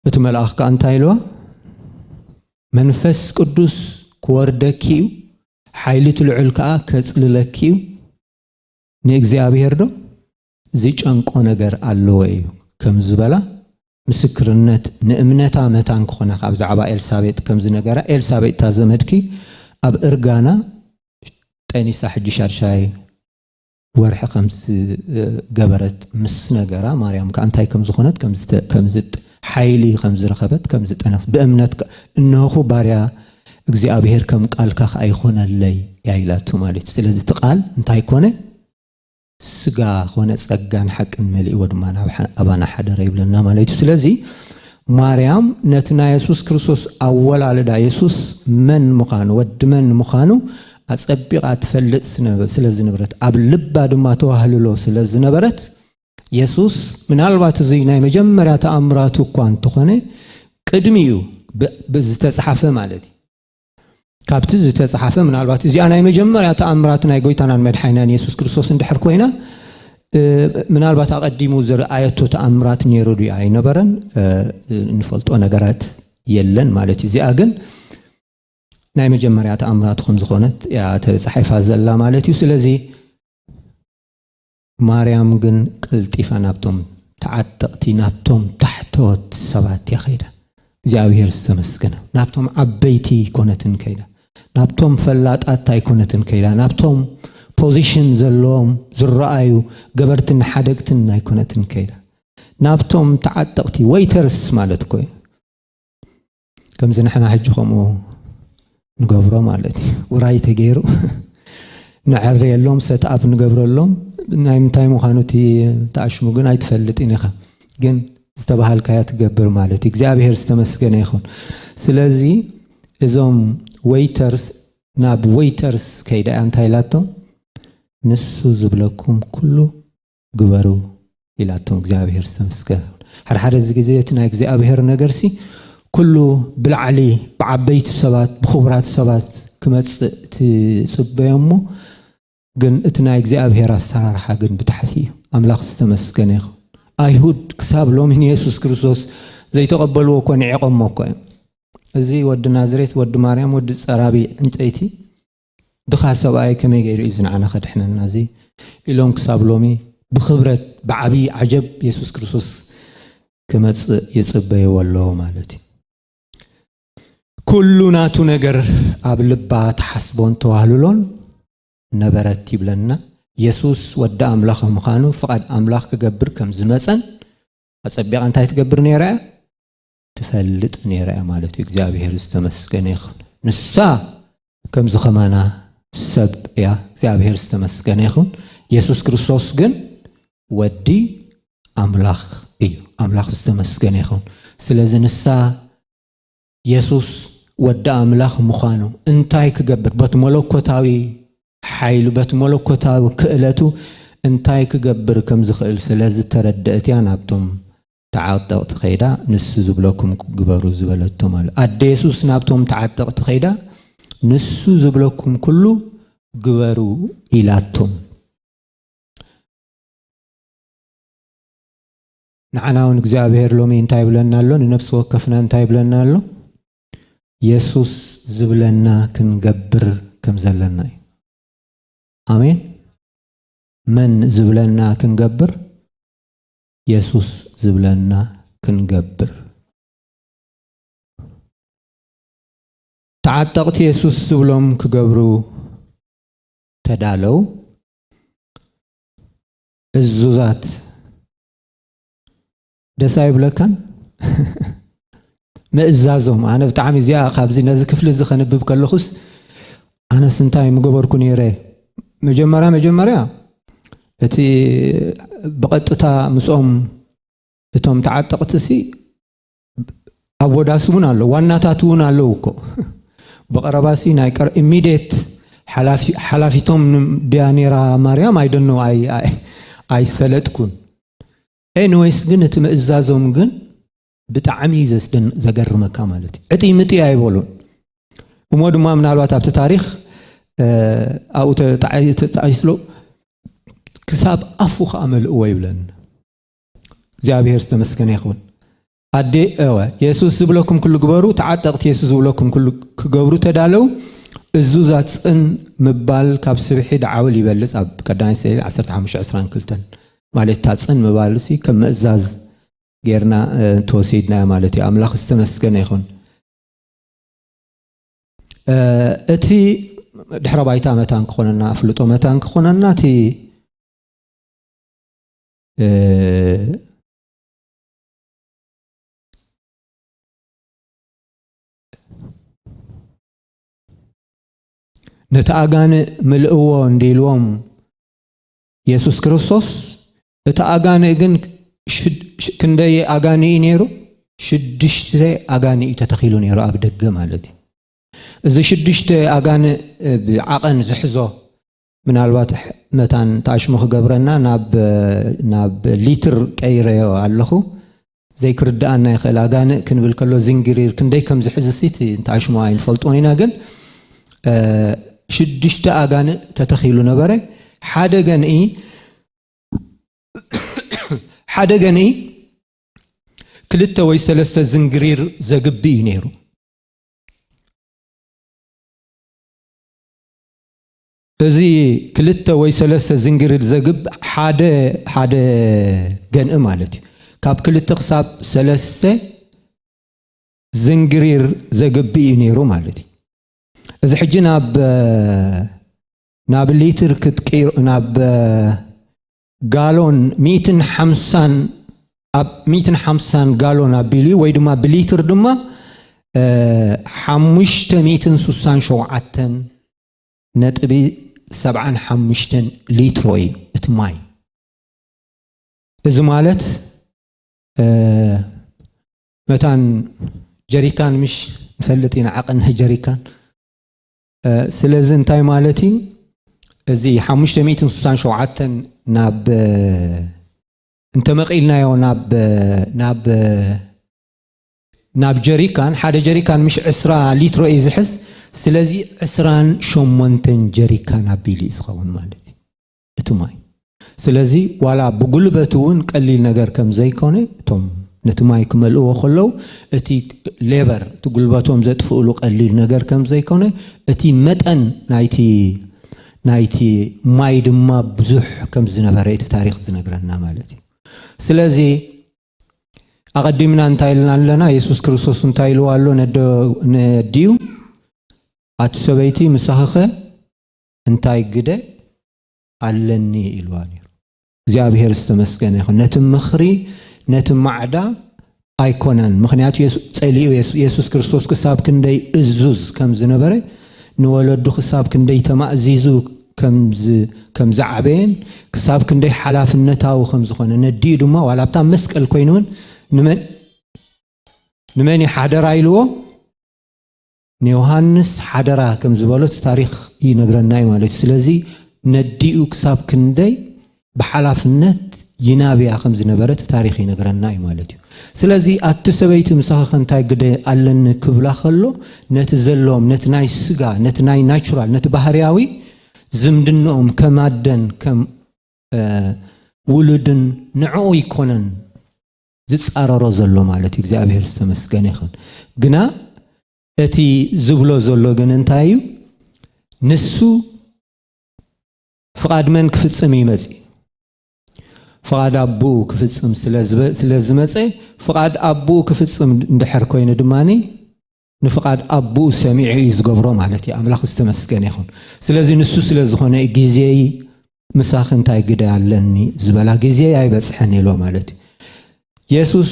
እቲ መልኣኽ ከኣ እንታይ ኢልዋ? መንፈስ ቅዱስ ክወርደኪ እዩ፣ ሓይሊ እቲ ልዑል ከኣ ከጽልለኪ እዩ፣ ንእግዚኣብሄርዶ ዝጨንቆ ነገር ኣለዎ እዩ ከም ዝበላ ምስክርነት ንእምነታ መታን ክኾነካ ብዛዕባ ኤልሳቤጥ ከም ዝነገራ ኤልሳቤጥ እታ ዘመድኪ ኣብ እርጋና ጠኒሳ ሕጂ ሻድሻይ ወርሒ ከም ዝገበረት ምስ ነገራ ማርያም ከኣ እንታይ ከም ዝኾነት ከም ዝተ- ከም ዝጥ ሓይሊ ከም ዝረኸበት ከም ዝጠነክት ብእምነት ከ- እነሆኹ ባርያ እግዚኣብሔር ከም ቃልካ ከኣ ይኾነለይ እያ ኢላቶ ማለት እዩ ስለዚ እቲ ቃል እንታይ ኮነ ስጋ ኮነ ጸጋን ሓቅን መሊእዎ ድማ ናብ ኣባና ሓደረ ይብለና ማለት እዩ ስለዚ ማርያም ነቲ ናይ የሱስ ክርስቶስ ኣወላልዳ የሱስ መን ምዃኑ ወዲ መን ምዃኑ ኣጸቢቓ ትፈልጥ ስለ ዝነበረት ኣብ ልባ ድማ ተዋህልሎ ስለ ዝነበረት የሱስ ምናልባት እዚ ናይ መጀመርያ ተኣምራቱ እኳ እንተኾነ ቅድሚ እዩ ብዝተፅሓፈ ማለት እዩ ካብቲ ዝተጻሓፈ ምናልባት እዚኣ ናይ መጀመርያ ተኣምራት ናይ ጎይታናን መድሓይናን የሱስ ክርስቶስ እንድሕር ኮይና ምናልባት ኣቐዲሙ ዝረኣየቶ ተኣምራት ነይሩ ድዩ ኣይነበረን እንፈልጦ ነገራት የለን ማለት እዩ እዚኣ ግን ናይ መጀመርያ ተኣምራት ከም ዝኾነት እያ ተጻሒፋ ዘላ ማለት እዩ ስለዚ ማርያም ግን ቀልጢፋ ናብቶም ተዓጠቕቲ፣ ናብቶም ታሕተዎት ሰባት እያ ከይዳ። እግዚኣብሄር ዝተመስገነ ይኹን። ናብቶም ዓበይቲ ኣይኮነትን ከይዳ፣ ናብቶም ፈላጣት ኣይኮነትን ከይዳ፣ ናብቶም ፖዚሽን ዘለዎም ዝረኣዩ ገበርትን ሓደግትን ኣይኮነትን ከይዳ፣ ናብቶም ተዓጠቕቲ፣ ወይተርስ ማለት እኮ እዩ፣ ከምዚ ንሕና ሕጂ ከምኡ ንገብሮ ማለት እዩ ውራይ ተገይሩ ንዐርየሎም ሰትኣፕ ንገብረሎም ናይ ምንታይ ምዃኑ እቲ ተኣሽሙ ግን ኣይትፈልጥን ኢኻ ግን ዝተባሃልካያ ትገብር ማለት እዩ እግዚኣብሄር ዝተመስገነ ይኹን ስለዚ እዞም ወይተርስ ናብ ወይተርስ ከይዳ እያ እንታይ ኢላቶም ንሱ ዝብለኩም ኩሉ ግበሩ ኢላቶም እግዚኣብሔር ዝተመስገን ሓደሓደ እዚ ግዜ እቲ ናይ እግዚኣብሔር ነገርሲ ኩሉ ብላዕሊ ብዓበይቲ ሰባት ብክቡራት ሰባት ክመፅእ ትፅበዮ እሞ ግን እቲ ናይ እግዚኣብሔር ኣሰራርሓ ግን ብታሕቲ እዩ ኣምላኽ ዝተመስገነ ይኹን ኣይሁድ ክሳብ ሎሚ ንየሱስ ክርስቶስ ዘይተቐበልዎ እኮ ንዒቐሞ እኮ እዮም እዚ ወዲ ናዝሬት ወዲ ማርያም ወዲ ፀራቢ ዕንጨይቲ ድኻ ሰብኣይ ከመይ ገይሩ እዩ እዚ ንዓና ከድሕነና እዚ ኢሎም ክሳብ ሎሚ ብኽብረት ብዓብዪ ዓጀብ የሱስ ክርስቶስ ክመጽእ ይጽበይዎ ኣለዎ ማለት እዩ ኩሉ ናቱ ነገር ኣብ ልባ ተሓስቦን ተዋህልሎን ነበረት ይብለና የሱስ ወዲ ኣምላኽ ምዃኑ ፍቓድ ኣምላኽ ክገብር ከም ዝመፀን ኣፀቢቓ እንታይ ትገብር ነይራ እያ ትፈልጥ ነይራ እያ ማለት እዩ እግዚኣብሔር ዝተመስገነ ይኹን ንሳ ከምዚ ከማና ሰብ እያ እግዚኣብሔር ዝተመስገነ ይኹን የሱስ ክርስቶስ ግን ወዲ ኣምላኽ እዩ ኣምላኽ ዝተመስገነ ይኹን ስለዚ ንሳ የሱስ ወዲ ኣምላኽ ምዃኑ እንታይ ክገብር በቲ መለኮታዊ ሓይሉ በቲ መለኮታዊ ክእለቱ እንታይ ክገብር ከም ዝኽእል ስለ ዝተረድአት እያ ናብቶም ተዓጠቕቲ ከይዳ ንሱ ዝብለኩም ግበሩ ዝበለቶም ኣሉ። ኣደ የሱስ ናብቶም ተዓጠቕቲ ከይዳ ንሱ ዝብለኩም ኩሉ ግበሩ ኢላቶም። ንዓና እውን እግዚኣብሔር ሎሚ እንታይ ይብለና ኣሎ? ንነፍሲ ወከፍና እንታይ ይብለና ኣሎ? የሱስ ዝብለና ክንገብር ከም ዘለና እዩ። ኣሜን። መን ዝብለና ክንገብር የሱስ ዝብለና ክንገብር። ተዓጠቕቲ የሱስ ዝብሎም ክገብሩ ተዳለው እዙዛት ደስ ኣይብለካን? ምእዛዞም ኣነ ብጣዕሚ እዚኣ ካብዚ ነዚ ክፍሊ እዚ ከንብብ ከለኹስ ኣነስ እንታይ ምገበርኩ ነይረ መጀመርያ መጀመርያ እቲ ብቐጥታ ምስኦም እቶም ተዓጠቕቲ ሲ ኣወዳሲ እውን ኣለዉ ዋናታት እውን ኣለዉ እኮ ብቐረባ ሲ ናይ ቀር ኢሚድት ሓላፊቶም ድያ ነራ ማርያም ኣይደኖ ኣይፈለጥኩን ኤኒወይስ ግን እቲ ምእዛዞም ግን ብጣዕሚ እዩ ዘስደን ዘገርመካ ማለት እዩ ዕጥይ ምጥይ ኣይበሉን እሞ ድማ ምናልባት ኣብቲ ታሪክ ኣብኡ ተጣቂስሎ ክሳብ ኣፉ ከዓ መልእዎ ይብለን እግዚኣብሔር ዝተመስገነ ይኸውን ኣዴ እወ የሱስ ዝብለኩም ክሉ ግበሩ ተዓጠቕቲ የሱስ ዝብለኩም ክሉ ክገብሩ ተዳለው እዙዛት ፅን ምባል ካብ ስብሒ ደዓውል ይበልፅ ኣብ ቀዳማይ ስዕሊ 1522 ማለት እታ ፅን ምባል ሲ ከም ምእዛዝ ጌርና እንተወሲድናዮ ማለት እዩ ኣምላኽ ዝተመስገነ ይኹን እቲ ድሕረ ባይታ መታን ክኾነና ኣፍልጦ መታን ክኾነና እቲ ነቲ ኣጋንእ ምልእዎ እንዲልዎም የሱስ ክርስቶስ እቲ ኣጋንእ ግን ክንደይ ኣጋንእ እዩ ነይሩ? ሽዱሽተ ኣጋንእ እዩ ተተኺሉ ነይሩ ኣብ ደገ ማለት እዩ። እዚ ሽዱሽተ ኣጋንእ ብዓቐን ዝሕዞ ምናልባት መታን ተኣሽሙ ክገብረና ናብ ሊትር ቀይረዮ ኣለኹ። ዘይክርድኣና ይኽእል ኣጋንእ ክንብል ከሎ ዝንግሪር ክንደይ ከም ዝሕዝስ እቲ እንታይ ሽሙ ኣይንፈልጦን ኢና ግን ሽዱሽተ ኣጋንእ ተተኺሉ ነበረ ሓደ ገንኢ ሓደ ገንኢ ክልተ ወይ ሰለስተ ዝንግሪር ዘግቢ እዩ ነይሩ እዚ ክልተ ወይ ሰለስተ ዝንግርድ ዘግብ ሓደ ሓደ ገንኢ ማለት እዩ። ካብ ክልተ ክሳብ ሰለስተ ዝንግሪር ዘግብ እዩ ነይሩ ማለት እዩ። እዚ ሕጂ ናብ ናብ ሊትር ክትቅይሮ ናብ ጋሎን ሚእትን ሓምሳን ኣብ ሚእትን ሓምሳን ጋሎን ኣቢሉ ወይ ድማ ብሊትር ድማ ሓሙሽተ ሚእትን ሱሳን ሸውዓተን ነጥቢ ሰብዓን ሓሙሽተን ሊትሮ እዩ እቲ ማይ እዚ ማለት መታን ጀሪካን ምሽ ንፈልጥ ኢና ዓቐን ጀሪካን ስለዚ እንታይ ማለት እዩ እዚ ሓሙሽተ ሚእትን ስሳን ሸውዓተን ናብ እንተመቒልናዮ ናብ ናብ ናብ ጀሪካን ሓደ ጀሪካን ምሽ ዕስራ ሊትሮ እዩ ዝሕዝ ስለዚ ዕስራን ሸሞንተን ጀሪካን ኣቢሉ እዩ ዝኸውን ማለት እዩ እቲ ማይ ስለዚ ዋላ ብጉልበት እውን ቀሊል ነገር ከም ዘይኮነ እቶም ነቲ ማይ ክመልእዎ ከለው እቲ ሌበር እቲ ጉልበቶም ዘጥፍእሉ ቀሊል ነገር ከም ዘይኮነ እቲ መጠን ናይቲ ናይቲ ማይ ድማ ብዙሕ ከም ዝነበረ እቲ ታሪክ ዝነግረና ማለት እዩ ስለዚ ኣቐዲምና እንታይ ኢልና ኣለና? የሱስ ክርስቶስ እንታይ ኢልዋ ኣሎ ነዲኡ? ኣቲ ሰበይቲ ምሳኽኸ እንታይ ግደ ኣለኒ ኢልዋ ነይሩ። እግዚኣብሄር ዝተመስገነ ይኹን። ነቲ ምኽሪ ነቲ ማዕዳ ኣይኮነን። ምክንያቱ ጸሊኡ የሱስ ክርስቶስ ክሳብ ክንደይ እዙዝ ከም ዝነበረ ንወለዱ ክሳብ ክንደይ ተማእዚዙ ከም ዝዓበየን ክሳብ ክንደይ ሓላፍነታዊ ከም ዝኾነ ነዲኡ ድማ ዋላ ኣብታ መስቀል ኮይኑ እውን ንመን እዩ ሓደራ ኢልዎ ንዮሃንስ ሓደራ ከም ዝበሎ እቲ ታሪክ ይነግረና እዩ ማለት እዩ ስለዚ ነዲኡ ክሳብ ክንደይ ብሓላፍነት ይናብያ ከም ዝነበረት ታሪኽ ይነግረና እዩ ማለት እዩ። ስለዚ ኣቲ ሰበይቲ ምሳኺ ከንታይ ግደ ኣለኒ ክብላ ከሎ ነቲ ዘለዎም ነቲ ናይ ስጋ ነቲ ናይ ናቹራል ነቲ ባህርያዊ ዝምድንኦም ከም ኣደን ከም ውሉድን ንዕኡ ይኮነን ዝጻረሮ ዘሎ ማለት እዩ እግዚኣብሔር ዝተመስገነ ይኹን ግና እቲ ዝብሎ ዘሎ ግን እንታይ እዩ ንሱ ፍቓድ መን ክፍጽም እዩ መጺኡ? ፍቓድ ኣቦኡ ክፍጽም ስለ ዝመጸ፣ ፍቓድ ኣቦኡ ክፍጽም እንድሕር ኮይኑ ድማ ንፍቓድ ኣቦኡ ሰሚዑ እዩ ዝገብሮ ማለት እዩ። ኣምላኽ ዝተመስገነ ይኹን። ስለዚ ንሱ ስለ ዝኾነ እዩ ግዜይ ምሳኺ እንታይ ግደ ኣለኒ ዝበላ ግዜ ኣይበፅሐን ኢሎ ማለት እዩ የሱስ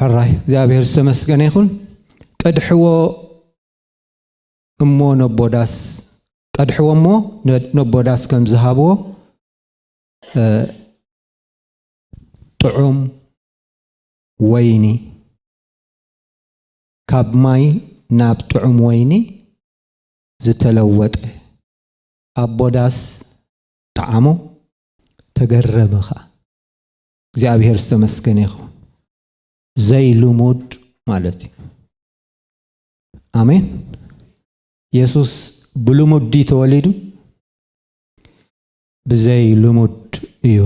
ሕራይ እግዚኣብሔር ዝተመስገነ ይኹን ቀድሕዎ እሞ ነቦዳስ ቀድሕዎ እሞ ነቦዳስ ከም ዝሃብዎ ጥዑም ወይኒ ካብ ማይ ናብ ጥዑም ወይኒ ዝተለወጠ ኣቦዳስ ጠዓሞ ተገረመ ኸኣ እግዚኣብሔር ዝተመስገነ ይኸውን ዘይልሙድ ማለት እዩ ኣሜን የሱስ ብልሙድ ድዩ ተወሊዱ ብዘይ ልሙድ እዩ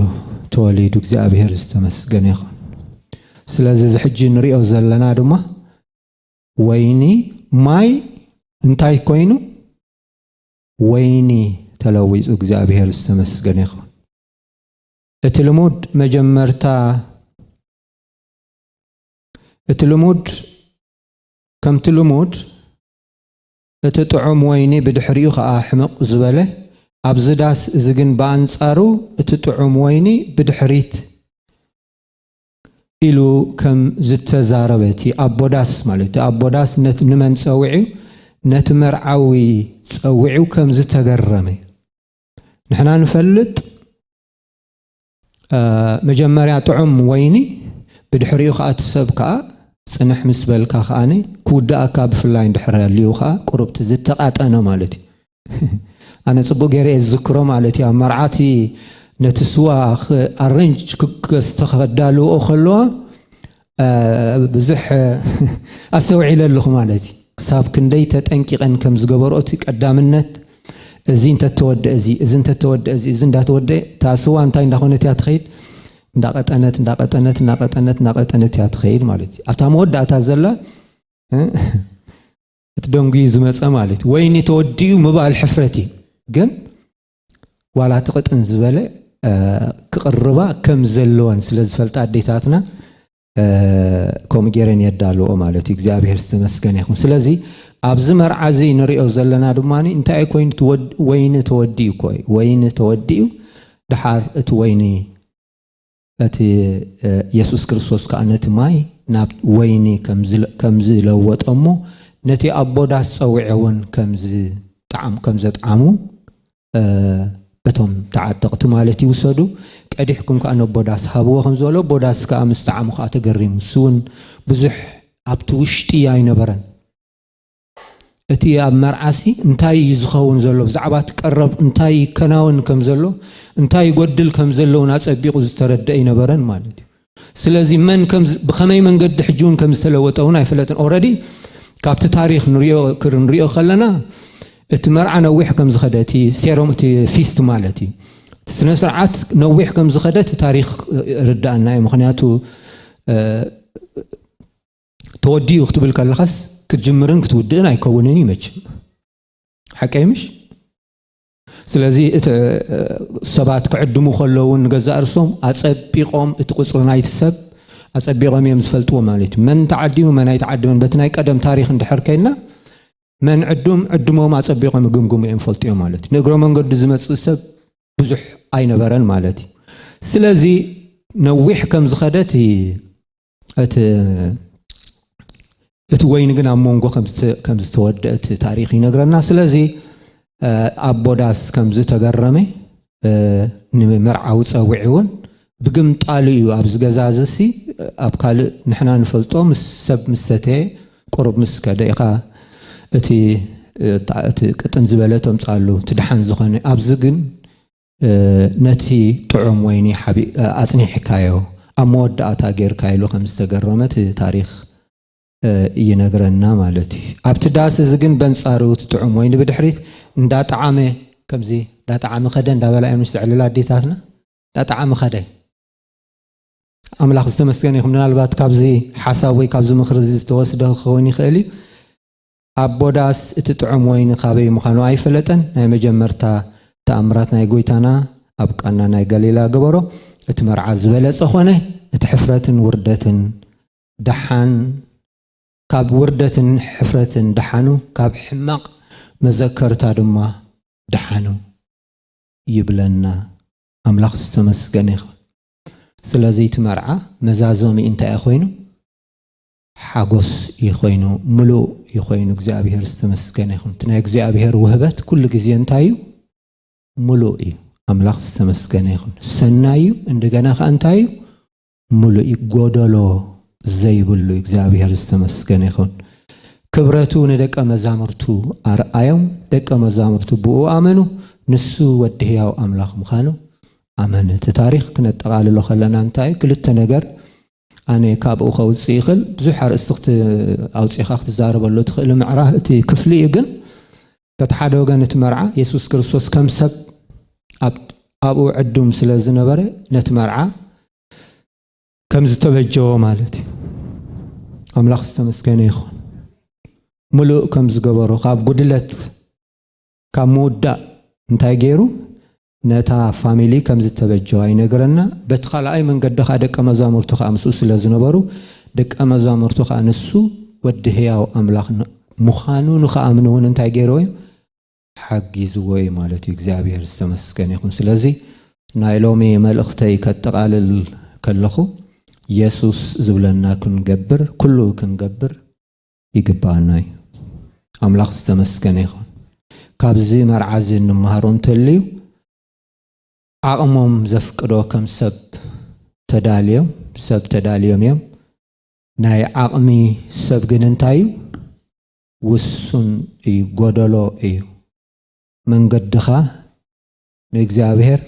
ተወሊዱ እግዚኣብሔር ዝተመስገነ ይኹን ስለዚ እዚ ሕጂ ንሪኦ ዘለና ድማ ወይኒ ማይ እንታይ ኮይኑ ወይኒ ተለዊጹ እግዚኣብሄር ዝተመስገነ ይኹን። እቲ ልሙድ መጀመርታ እቲ ልሙድ ከምቲ ልሙድ እቲ ጥዑም ወይኒ ብድሕሪኡ ከኣ ሕምቕ ዝበለ ኣብዚ ዳስ እዚ ግን ብኣንጻሩ እቲ ጥዑም ወይኒ ብድሕሪት ኢሉ ከም ዝተዛረበ እቲ ኣቦ ዳስ ማለት እቲ ኣቦ ዳስ ነቲ ንመን ጸዊዑ ነቲ መርዓዊ ጸዊዑ ከም ዝተገረመ ንሕና ንፈልጥ መጀመርያ ጥዑም ወይኒ ብድሕሪኡ ከዓ እቲ ሰብ ከዓ ጽንሕ ምስ በልካ ከዓነ ክውድኣካ ብፍላይ እንድሕር ኣልዩ ከዓ ቁሩብቲ ዝተቃጠነ ማለት እዩ ኣነ ጽቡቅ ገይረ እየ ዝዝክሮ ማለት እዩ ኣብ መርዓቲ ነቲ ስዋ ኣረንጅ ክስተኸዳልዎ ከለዋ ብዙሕ ኣስተውዒለ ኣለኹ ማለት እዩ ክሳብ ክንደይ ተጠንቂቐን ከም ዝገበርኦ እቲ ቀዳምነት እዚ እንተተወደአ እዚ እዚ እንተተወደአ እዚ እዚ እንዳተወደአ እታ ስዋ እንታይ እንዳኾነት እያ ትኸይድ እንዳቐጠነት እንዳቐጠነት እንዳቐጠነት እንዳቐጠነት እያ ትኸይድ ማለት እዩ ኣብታ መወዳእታ ዘላ እቲ ደንጉዩ ዝመፀ ማለት እዩ ወይኒ ተወዲኡ ምባል ሕፍረት እዩ ግን ዋላ እቲ ቅጥን ዝበለ ክቕርባ ከም ዘለወን ስለ ዝፈልጣ ኣዴታትና ከምኡ ገይረን የዳልዎ ማለት እዩ እግዚኣብሔር ዝተመስገነ ይኹን ስለዚ ኣብዚ መርዓ እዚ ንሪኦ ዘለና ድማ እንታይ እዩ ኮይኑ ወይኒ ተወዲኡ እኮ እዩ ወይኒ ተወዲኡ ድሓር እቲ ወይኒ እቲ የሱስ ክርስቶስ ከኣ ነቲ ማይ ናብ ወይኒ ከም ዝለወጦ እሞ ነቲ ኣቦ ዳስ ጸዊዑ እውን ከም ዘጥዓሙ እቶም ተዓጠቕቲ ማለት እዩ ውሰዱ፣ ቀዲሕኩም ከኣ ነቦ ዳስ ሃብዎ ከም ዝበሎ፣ ኣቦ ዳስ ከኣ ምስ ጠዓሞ ከኣ ተገሪሙ፣ ንሱ እውን ብዙሕ ኣብቲ ውሽጢ ኣይነበረን። እቲ ኣብ መርዓሲ እንታይ እዩ ዝኸውን ዘሎ፣ ብዛዕባ እቲ ቀረብ እንታይ ይከናወን ከም ዘሎ፣ እንታይ ይጎድል ከም ዘሎ እውን ኣጸቢቑ ዝተረድእ ኣይነበረን ማለት እዩ። ስለዚ መን ከም ብኸመይ መንገዲ ሕጂ እውን ከም ዝተለወጠ እውን ኣይፈለጥን። ኦረዲ ካብቲ ታሪኽ ንሪኦ ክንሪኦ ከለና እቲ መርዓ ነዊሕ ከም ዝኸደ እቲ ሴሮም እቲ ፊስት ማለት እዩ ስነ ስርዓት ነዊሕ ከም ዝኸደ እቲ ታሪኽ ርዳእና እዩ ምክንያቱ ተወዲኡ ክትብል ከለኻስ ክትጅምርን ክትውድእን ኣይከውንን እዩ መችም ሓቀይ ምሽ ስለዚ እቲ ሰባት ክዕድሙ ከለውን ንገዛእ ርሶም ኣፀቢቆም እቲ ቁፅሪ ናይቲ ሰብ ኣፀቢቆም እዮም ዝፈልጥዎ ማለት እዩ መን ተዓዲሙ መን ኣይተዓድመን በቲ ናይ ቀደም ታሪክ እንድሕር ከይና መን ዕዱም ዕድሞም ኣፀቢቆም ይግምግሙ እዮም ፈልጡ እዮም ማለት እዩ ንእግረ መንገዱ ዝመፅእ ሰብ ብዙሕ ኣይነበረን ማለት እዩ ስለዚ ነዊሕ ከም ዝኸደት እቲ እቲ ወይኒ ግን ኣብ መንጎ ከም ዝተወድአ እቲ ታሪክ ይነግረና ስለዚ ኣቦ ዳስ ከም ዝተገረመ ንመርዓዊ ፀዊዒ እውን ብግምጣሉ እዩ ኣብዚ ገዛ እዚሲ ኣብ ካልእ ንሕና ንፈልጦ ምስ ሰብ ምስ ሰተየ ቁሩብ ምስ ከደ ኢኻ እቲ እቲ ቅጥን ዝበለ ተምፃሉ እቲ ድሓን ዝኾነ ኣብዚ ግን ነቲ ጥዑም ወይኒ ኣጽኒሕካዮ ኣብ መወዳእታ ጌርካ ኢሉ ከም ዝተገረመ እቲ ታሪኽ ይነግረና ማለት እዩ። ኣብቲ ዳስ እዚ ግን በንጻሩ እቲ ጥዑም ወይኒ ብድሕሪት እንዳጠዓመ ከምዚ እንዳጠዓመ ከደ እንዳበላ እየን ምስተዕልላ ኣዴታትና እንዳጠዓመ ከደ። ኣምላኽ ዝተመስገነ ይኹን ምናልባት ካብዚ ሓሳብ ወይ ካብዚ ምኽሪ እዚ ዝተወስደ ክኸውን ይኽእል እዩ። ኣቦ ዳስ እቲ ጥዑም ወይኒ ካበይ ምካኑ ኣይፈለጠን ናይ መጀመርታ ታኣምራት ናይ ጎይታና ኣብ ቃና ናይ ጋሊላ ገበሮ እቲ መርዓ ዝበለጸ ኮነ እቲ ሕፍረትን ውርደትን ዳሓን ካብ ውርደትን ሕፍረትን ዳሓኑ ካብ ሕማቅ መዘከርታ ድማ ዳሓኑ ይብለና ኣምላክ ዝተመስገነ ይኩን ስለዚ እቲ መርዓ መዛዘሚኡ እንታይ እዩ ኮይኑ ሓጎስ እዩ ኮይኑ ምሉእ እዩ ኮይኑ እግዚኣብሔር ዝተመስገነ ይኹን እቲ ናይ እግዚኣብሔር ውህበት ኩሉ ግዜ እንታይ እዩ ምሉእ እዩ ኣምላኽ ዝተመስገነ ይኹን ሰናይ እዩ እንደገና ከዓ እንታይ እዩ ምሉእ እዩ ጎደሎ ዘይብሉ እግዚኣብሔር ዝተመስገነ ይኹን ክብረቱ ንደቀ መዛሙርቱ ኣርኣዮም ደቀ መዛሙርቱ ብኡ ኣመኑ ንሱ ወዲ ህያው ኣምላኽ ምዃኑ ኣመን እቲ ታሪክ ክነጠቃልሎ ከለና እንታይ ክልተ ነገር ኣነ ካብኡ ከውጽእ ይኽእል ብዙሕ ኣርእስቲ ክት ኣውጺኻ ክትዛረበሉ ትኽእል ምዕራፍ እቲ ክፍሊ እዩ ግን በቲ ሓደ ወገን እቲ መርዓ የሱስ ክርስቶስ ከም ሰብ ኣብኡ ዕዱም ስለ ዝነበረ ነቲ መርዓ ከም ዝተበጀዎ ማለት እዩ ኣምላኽ ዝተመስገነ ይኹን ምሉእ ከም ዝገበሮ ካብ ጉድለት ካብ ምውዳእ እንታይ ገይሩ ነታ ፋሚሊ ከም ዝተበጀዋ ይነግረና፣ በቲ ካልኣይ መንገዲ ኸኣ ደቀ መዛሙርቱ ኸኣ ምስኡ ስለ ዝነበሩ፣ ደቀ መዛሙርቱ ኸኣ ንሱ ወዲ ህያው ኣምላኽ ምዃኑ ንኽኣምኑ እውን እንታይ ገይርዎ እዩ? ሓጊዝዎ እዩ ማለት እዩ። እግዚኣብሔር ዝተመስገነ ይኹን። ስለዚ ናይ ሎሚ መልእኽተይ ከጠቓልል ከለኹ የሱስ ዝብለና ክንገብር ኩሉ ክንገብር ይግብኣና እዩ ኣምላኽ ዝተመስገነ ይኹን ካብዚ መርዓ እዚ እንመሃሮ እንተልዩ ዓቕሞም ዘፍቅዶ ከም ሰብ ተዳልዮም ሰብ ተዳልዮም እዮም ናይ ዓቕሚ ሰብ ግን እንታይ እዩ ውሱን እዩ ጎደሎ እዩ መንገድኻ ንእግዚኣብሔር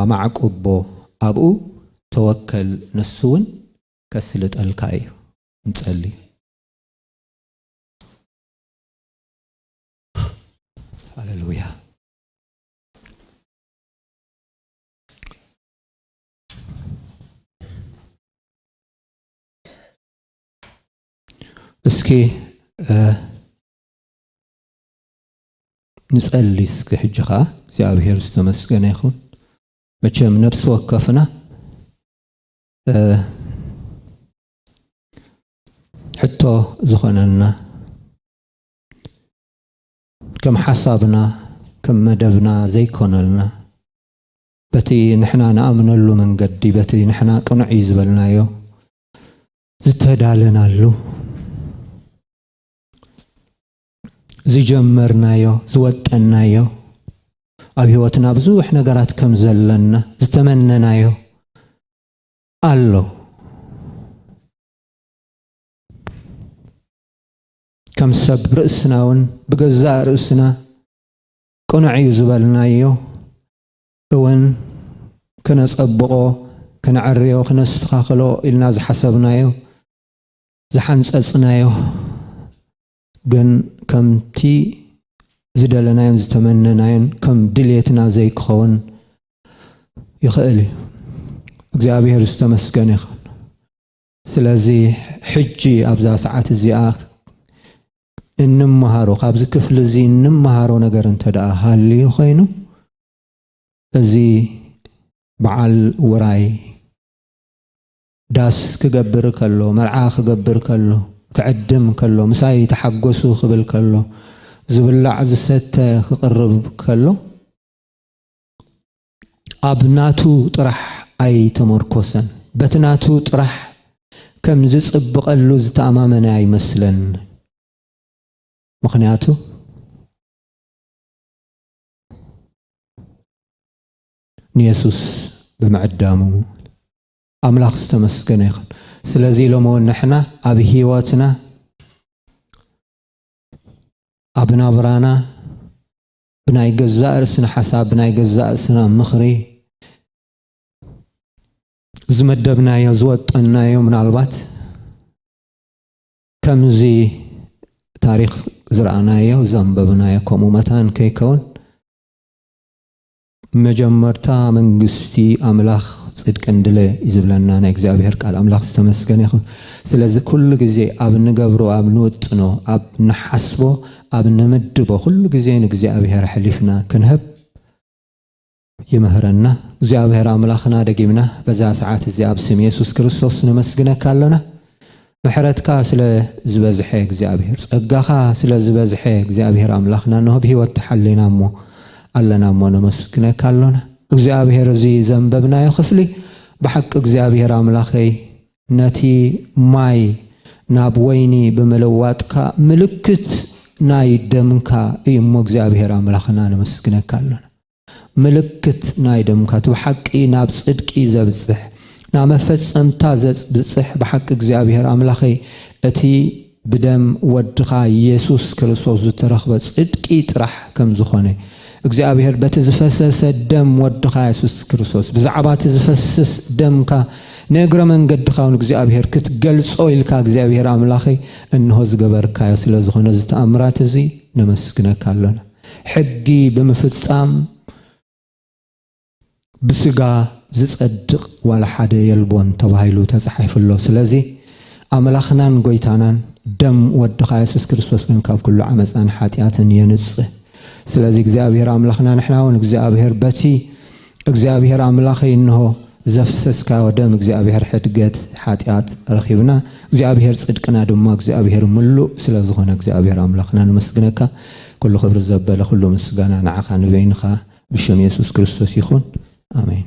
ኣማዕቁቦ ኣብኡ ተወከል ንሱ እውን ከስልጠልካ እዩ ንጸሊ። ሃሌሉያ። እስኪ ንጸሊ እስኪ ሕጂ ከዓ እግዚኣብሔር ዝተመስገነ ይኹን መቸም ነብሲ ወከፍና ሕቶ ዝኾነና ከም ሓሳብና ከም መደብና ዘይኮነልና በቲ ንሕና ንኣምነሉ መንገዲ በቲ ንሕና ቅኑዕ እዩ ዝበልናዮ ዝተዳለናሉ ዝጀመርናዮ ዝወጠናዮ ኣብ ህይወትና ብዙሕ ነገራት ከም ዘለና ዝተመነናዮ ኣሎ ከም ሰብ ርእስና እውን ብገዛእ ርእስና ቅኑዕ እዩ ዝበልናዮ እውን ክነፀብቆ ክነዕርዮ ክነስተኻኽሎ ኢልና ዝሓሰብናዮ ዝሓንፀፅናዮ ግን ከምቲ ዝደለናዮን ዝተመነናዮን ከም ድልየትና ዘይክኸውን ይኽእል እዩ። እግዚኣብሔር ዝተመስገን ይኹን። ስለዚ ሕጂ ኣብዛ ሰዓት እዚኣ እንመሃሮ ካብዚ ክፍሊ እዚ እንመሃሮ ነገር እንተ ደኣ ሃልዩ ኮይኑ እዚ በዓል ውራይ ዳስ ክገብር ከሎ፣ መርዓ ክገብር ከሎ፣ ክዕድም ከሎ፣ ምሳይ ተሓጎሱ ክብል ከሎ፣ ዝብላዕ ዝሰተ ክቕርብ ከሎ፣ ኣብ ናቱ ጥራሕ ኣይተሞርኮሰን። በቲ ናቱ ጥራሕ ከም ዝጽብቐሉ ዝተኣማመነ ኣይመስለን። ምኽንያቱ ንየሱስ ብምዕዳሙ። ኣምላኽ ዝተመስገነ ይኹን። ስለዚ ሎሚ እውን ንሕና ኣብ ህይወትና ኣብ ናብራና ብናይ ገዛእ ርእስና ሓሳብ ብናይ ገዛእ ርእስና ምኽሪ ዝመደብናዮ ዝወጠናዮ ምናልባት ከምዚ ታሪክ ዝረኣናዮ ዘንበብናዮ ከምኡ መታን ከይከውን መጀመርታ መንግስቲ ኣምላኽ ጽድቅን ድለ እዩ ዝብለና ናይ እግዚኣብሔር ቃል ኣምላኽ ዝተመስገነ ይኹን ስለዚ ኩሉ ግዜ ኣብ ንገብሮ ኣብ ንውጥኖ ኣብ ንሓስቦ ኣብ ንምድቦ ኩሉ ግዜ ንእግዚኣብሔር ኣሕሊፍና ክንህብ ይምህረና እግዚኣብሔር ኣምላኽና ደጊምና በዛ ሰዓት እዚኣ ኣብ ስም የሱስ ክርስቶስ ነመስግነካ ኣሎና ምሕረትካ ስለ ዝበዝሐ እግዚኣብሔር ጸጋኻ ስለ ዝበዝሐ እግዚኣብሔር ኣምላኽና እንሆ ብሕይወት ተሓሊና እሞ ኣለና እሞ ነመስግነካ ኣሎና እግዚኣብሔር እዚ ዘንበብናዮ ክፍሊ ብሓቂ እግዚኣብሔር ኣምላኸይ ነቲ ማይ ናብ ወይኒ ብምልዋጥካ ምልክት ናይ ደምካ እዩ እሞ እግዚኣብሔር ኣምላኽና ነመስግነካ ኣሎና ምልክት ናይ ደምካ እቲ ብሓቂ ናብ ጽድቂ ዘብጽሕ ናብ መፈጸምታ ዘብጽሕ ብሓቂ እግዚኣብሄር ኣምላኸይ እቲ ብደም ወድኻ የሱስ ክርስቶስ ዝተረኽበ ጽድቂ ጥራሕ ከም ዝኾነ እግዚኣብሄር በቲ ዝፈሰሰ ደም ወድኻ የሱስ ክርስቶስ ብዛዕባ እቲ ዝፈስስ ደምካ ንእግረ መንገድኻ እውን እግዚኣብሄር ክትገልጾ ኢልካ እግዚኣብሄር ኣምላኸይ እንሆ ዝገበርካዮ ስለ ዝኾነ እዚ ተኣምራት እዚ ነመስግነካ ኣሎና ሕጊ ብምፍጻም ብስጋ ዝጸድቕ ዋላ ሓደ የልቦን ተባሂሉ ተጻሒፉ ኣሎ። ስለዚ ኣምላኽናን ጎይታናን ደም ወድኻ የሱስ ክርስቶስ ግን ካብ ኩሉ ዓመጻን ሓጢኣትን የንጽህ። ስለዚ እግዚኣብሄር ኣምላኽና ንሕና እውን እግዚኣብሄር በቲ እግዚኣብሄር ኣምላኸይ እንሆ ዘፍሰስካዮ ደም እግዚኣብሔር ሕድገት ሓጢኣት ረኺብና እግዚኣብሔር ጽድቅና ድማ እግዚኣብሔር ምሉእ ስለ ዝኾነ እግዚኣብሔር ኣምላኽና ነመስግነካ ኩሉ ክብሪ ዘበለ ኩሉ ምስጋና ንዓኻ ንበይንኻ ብሽም የሱስ ክርስቶስ ይኹን ኣሜን።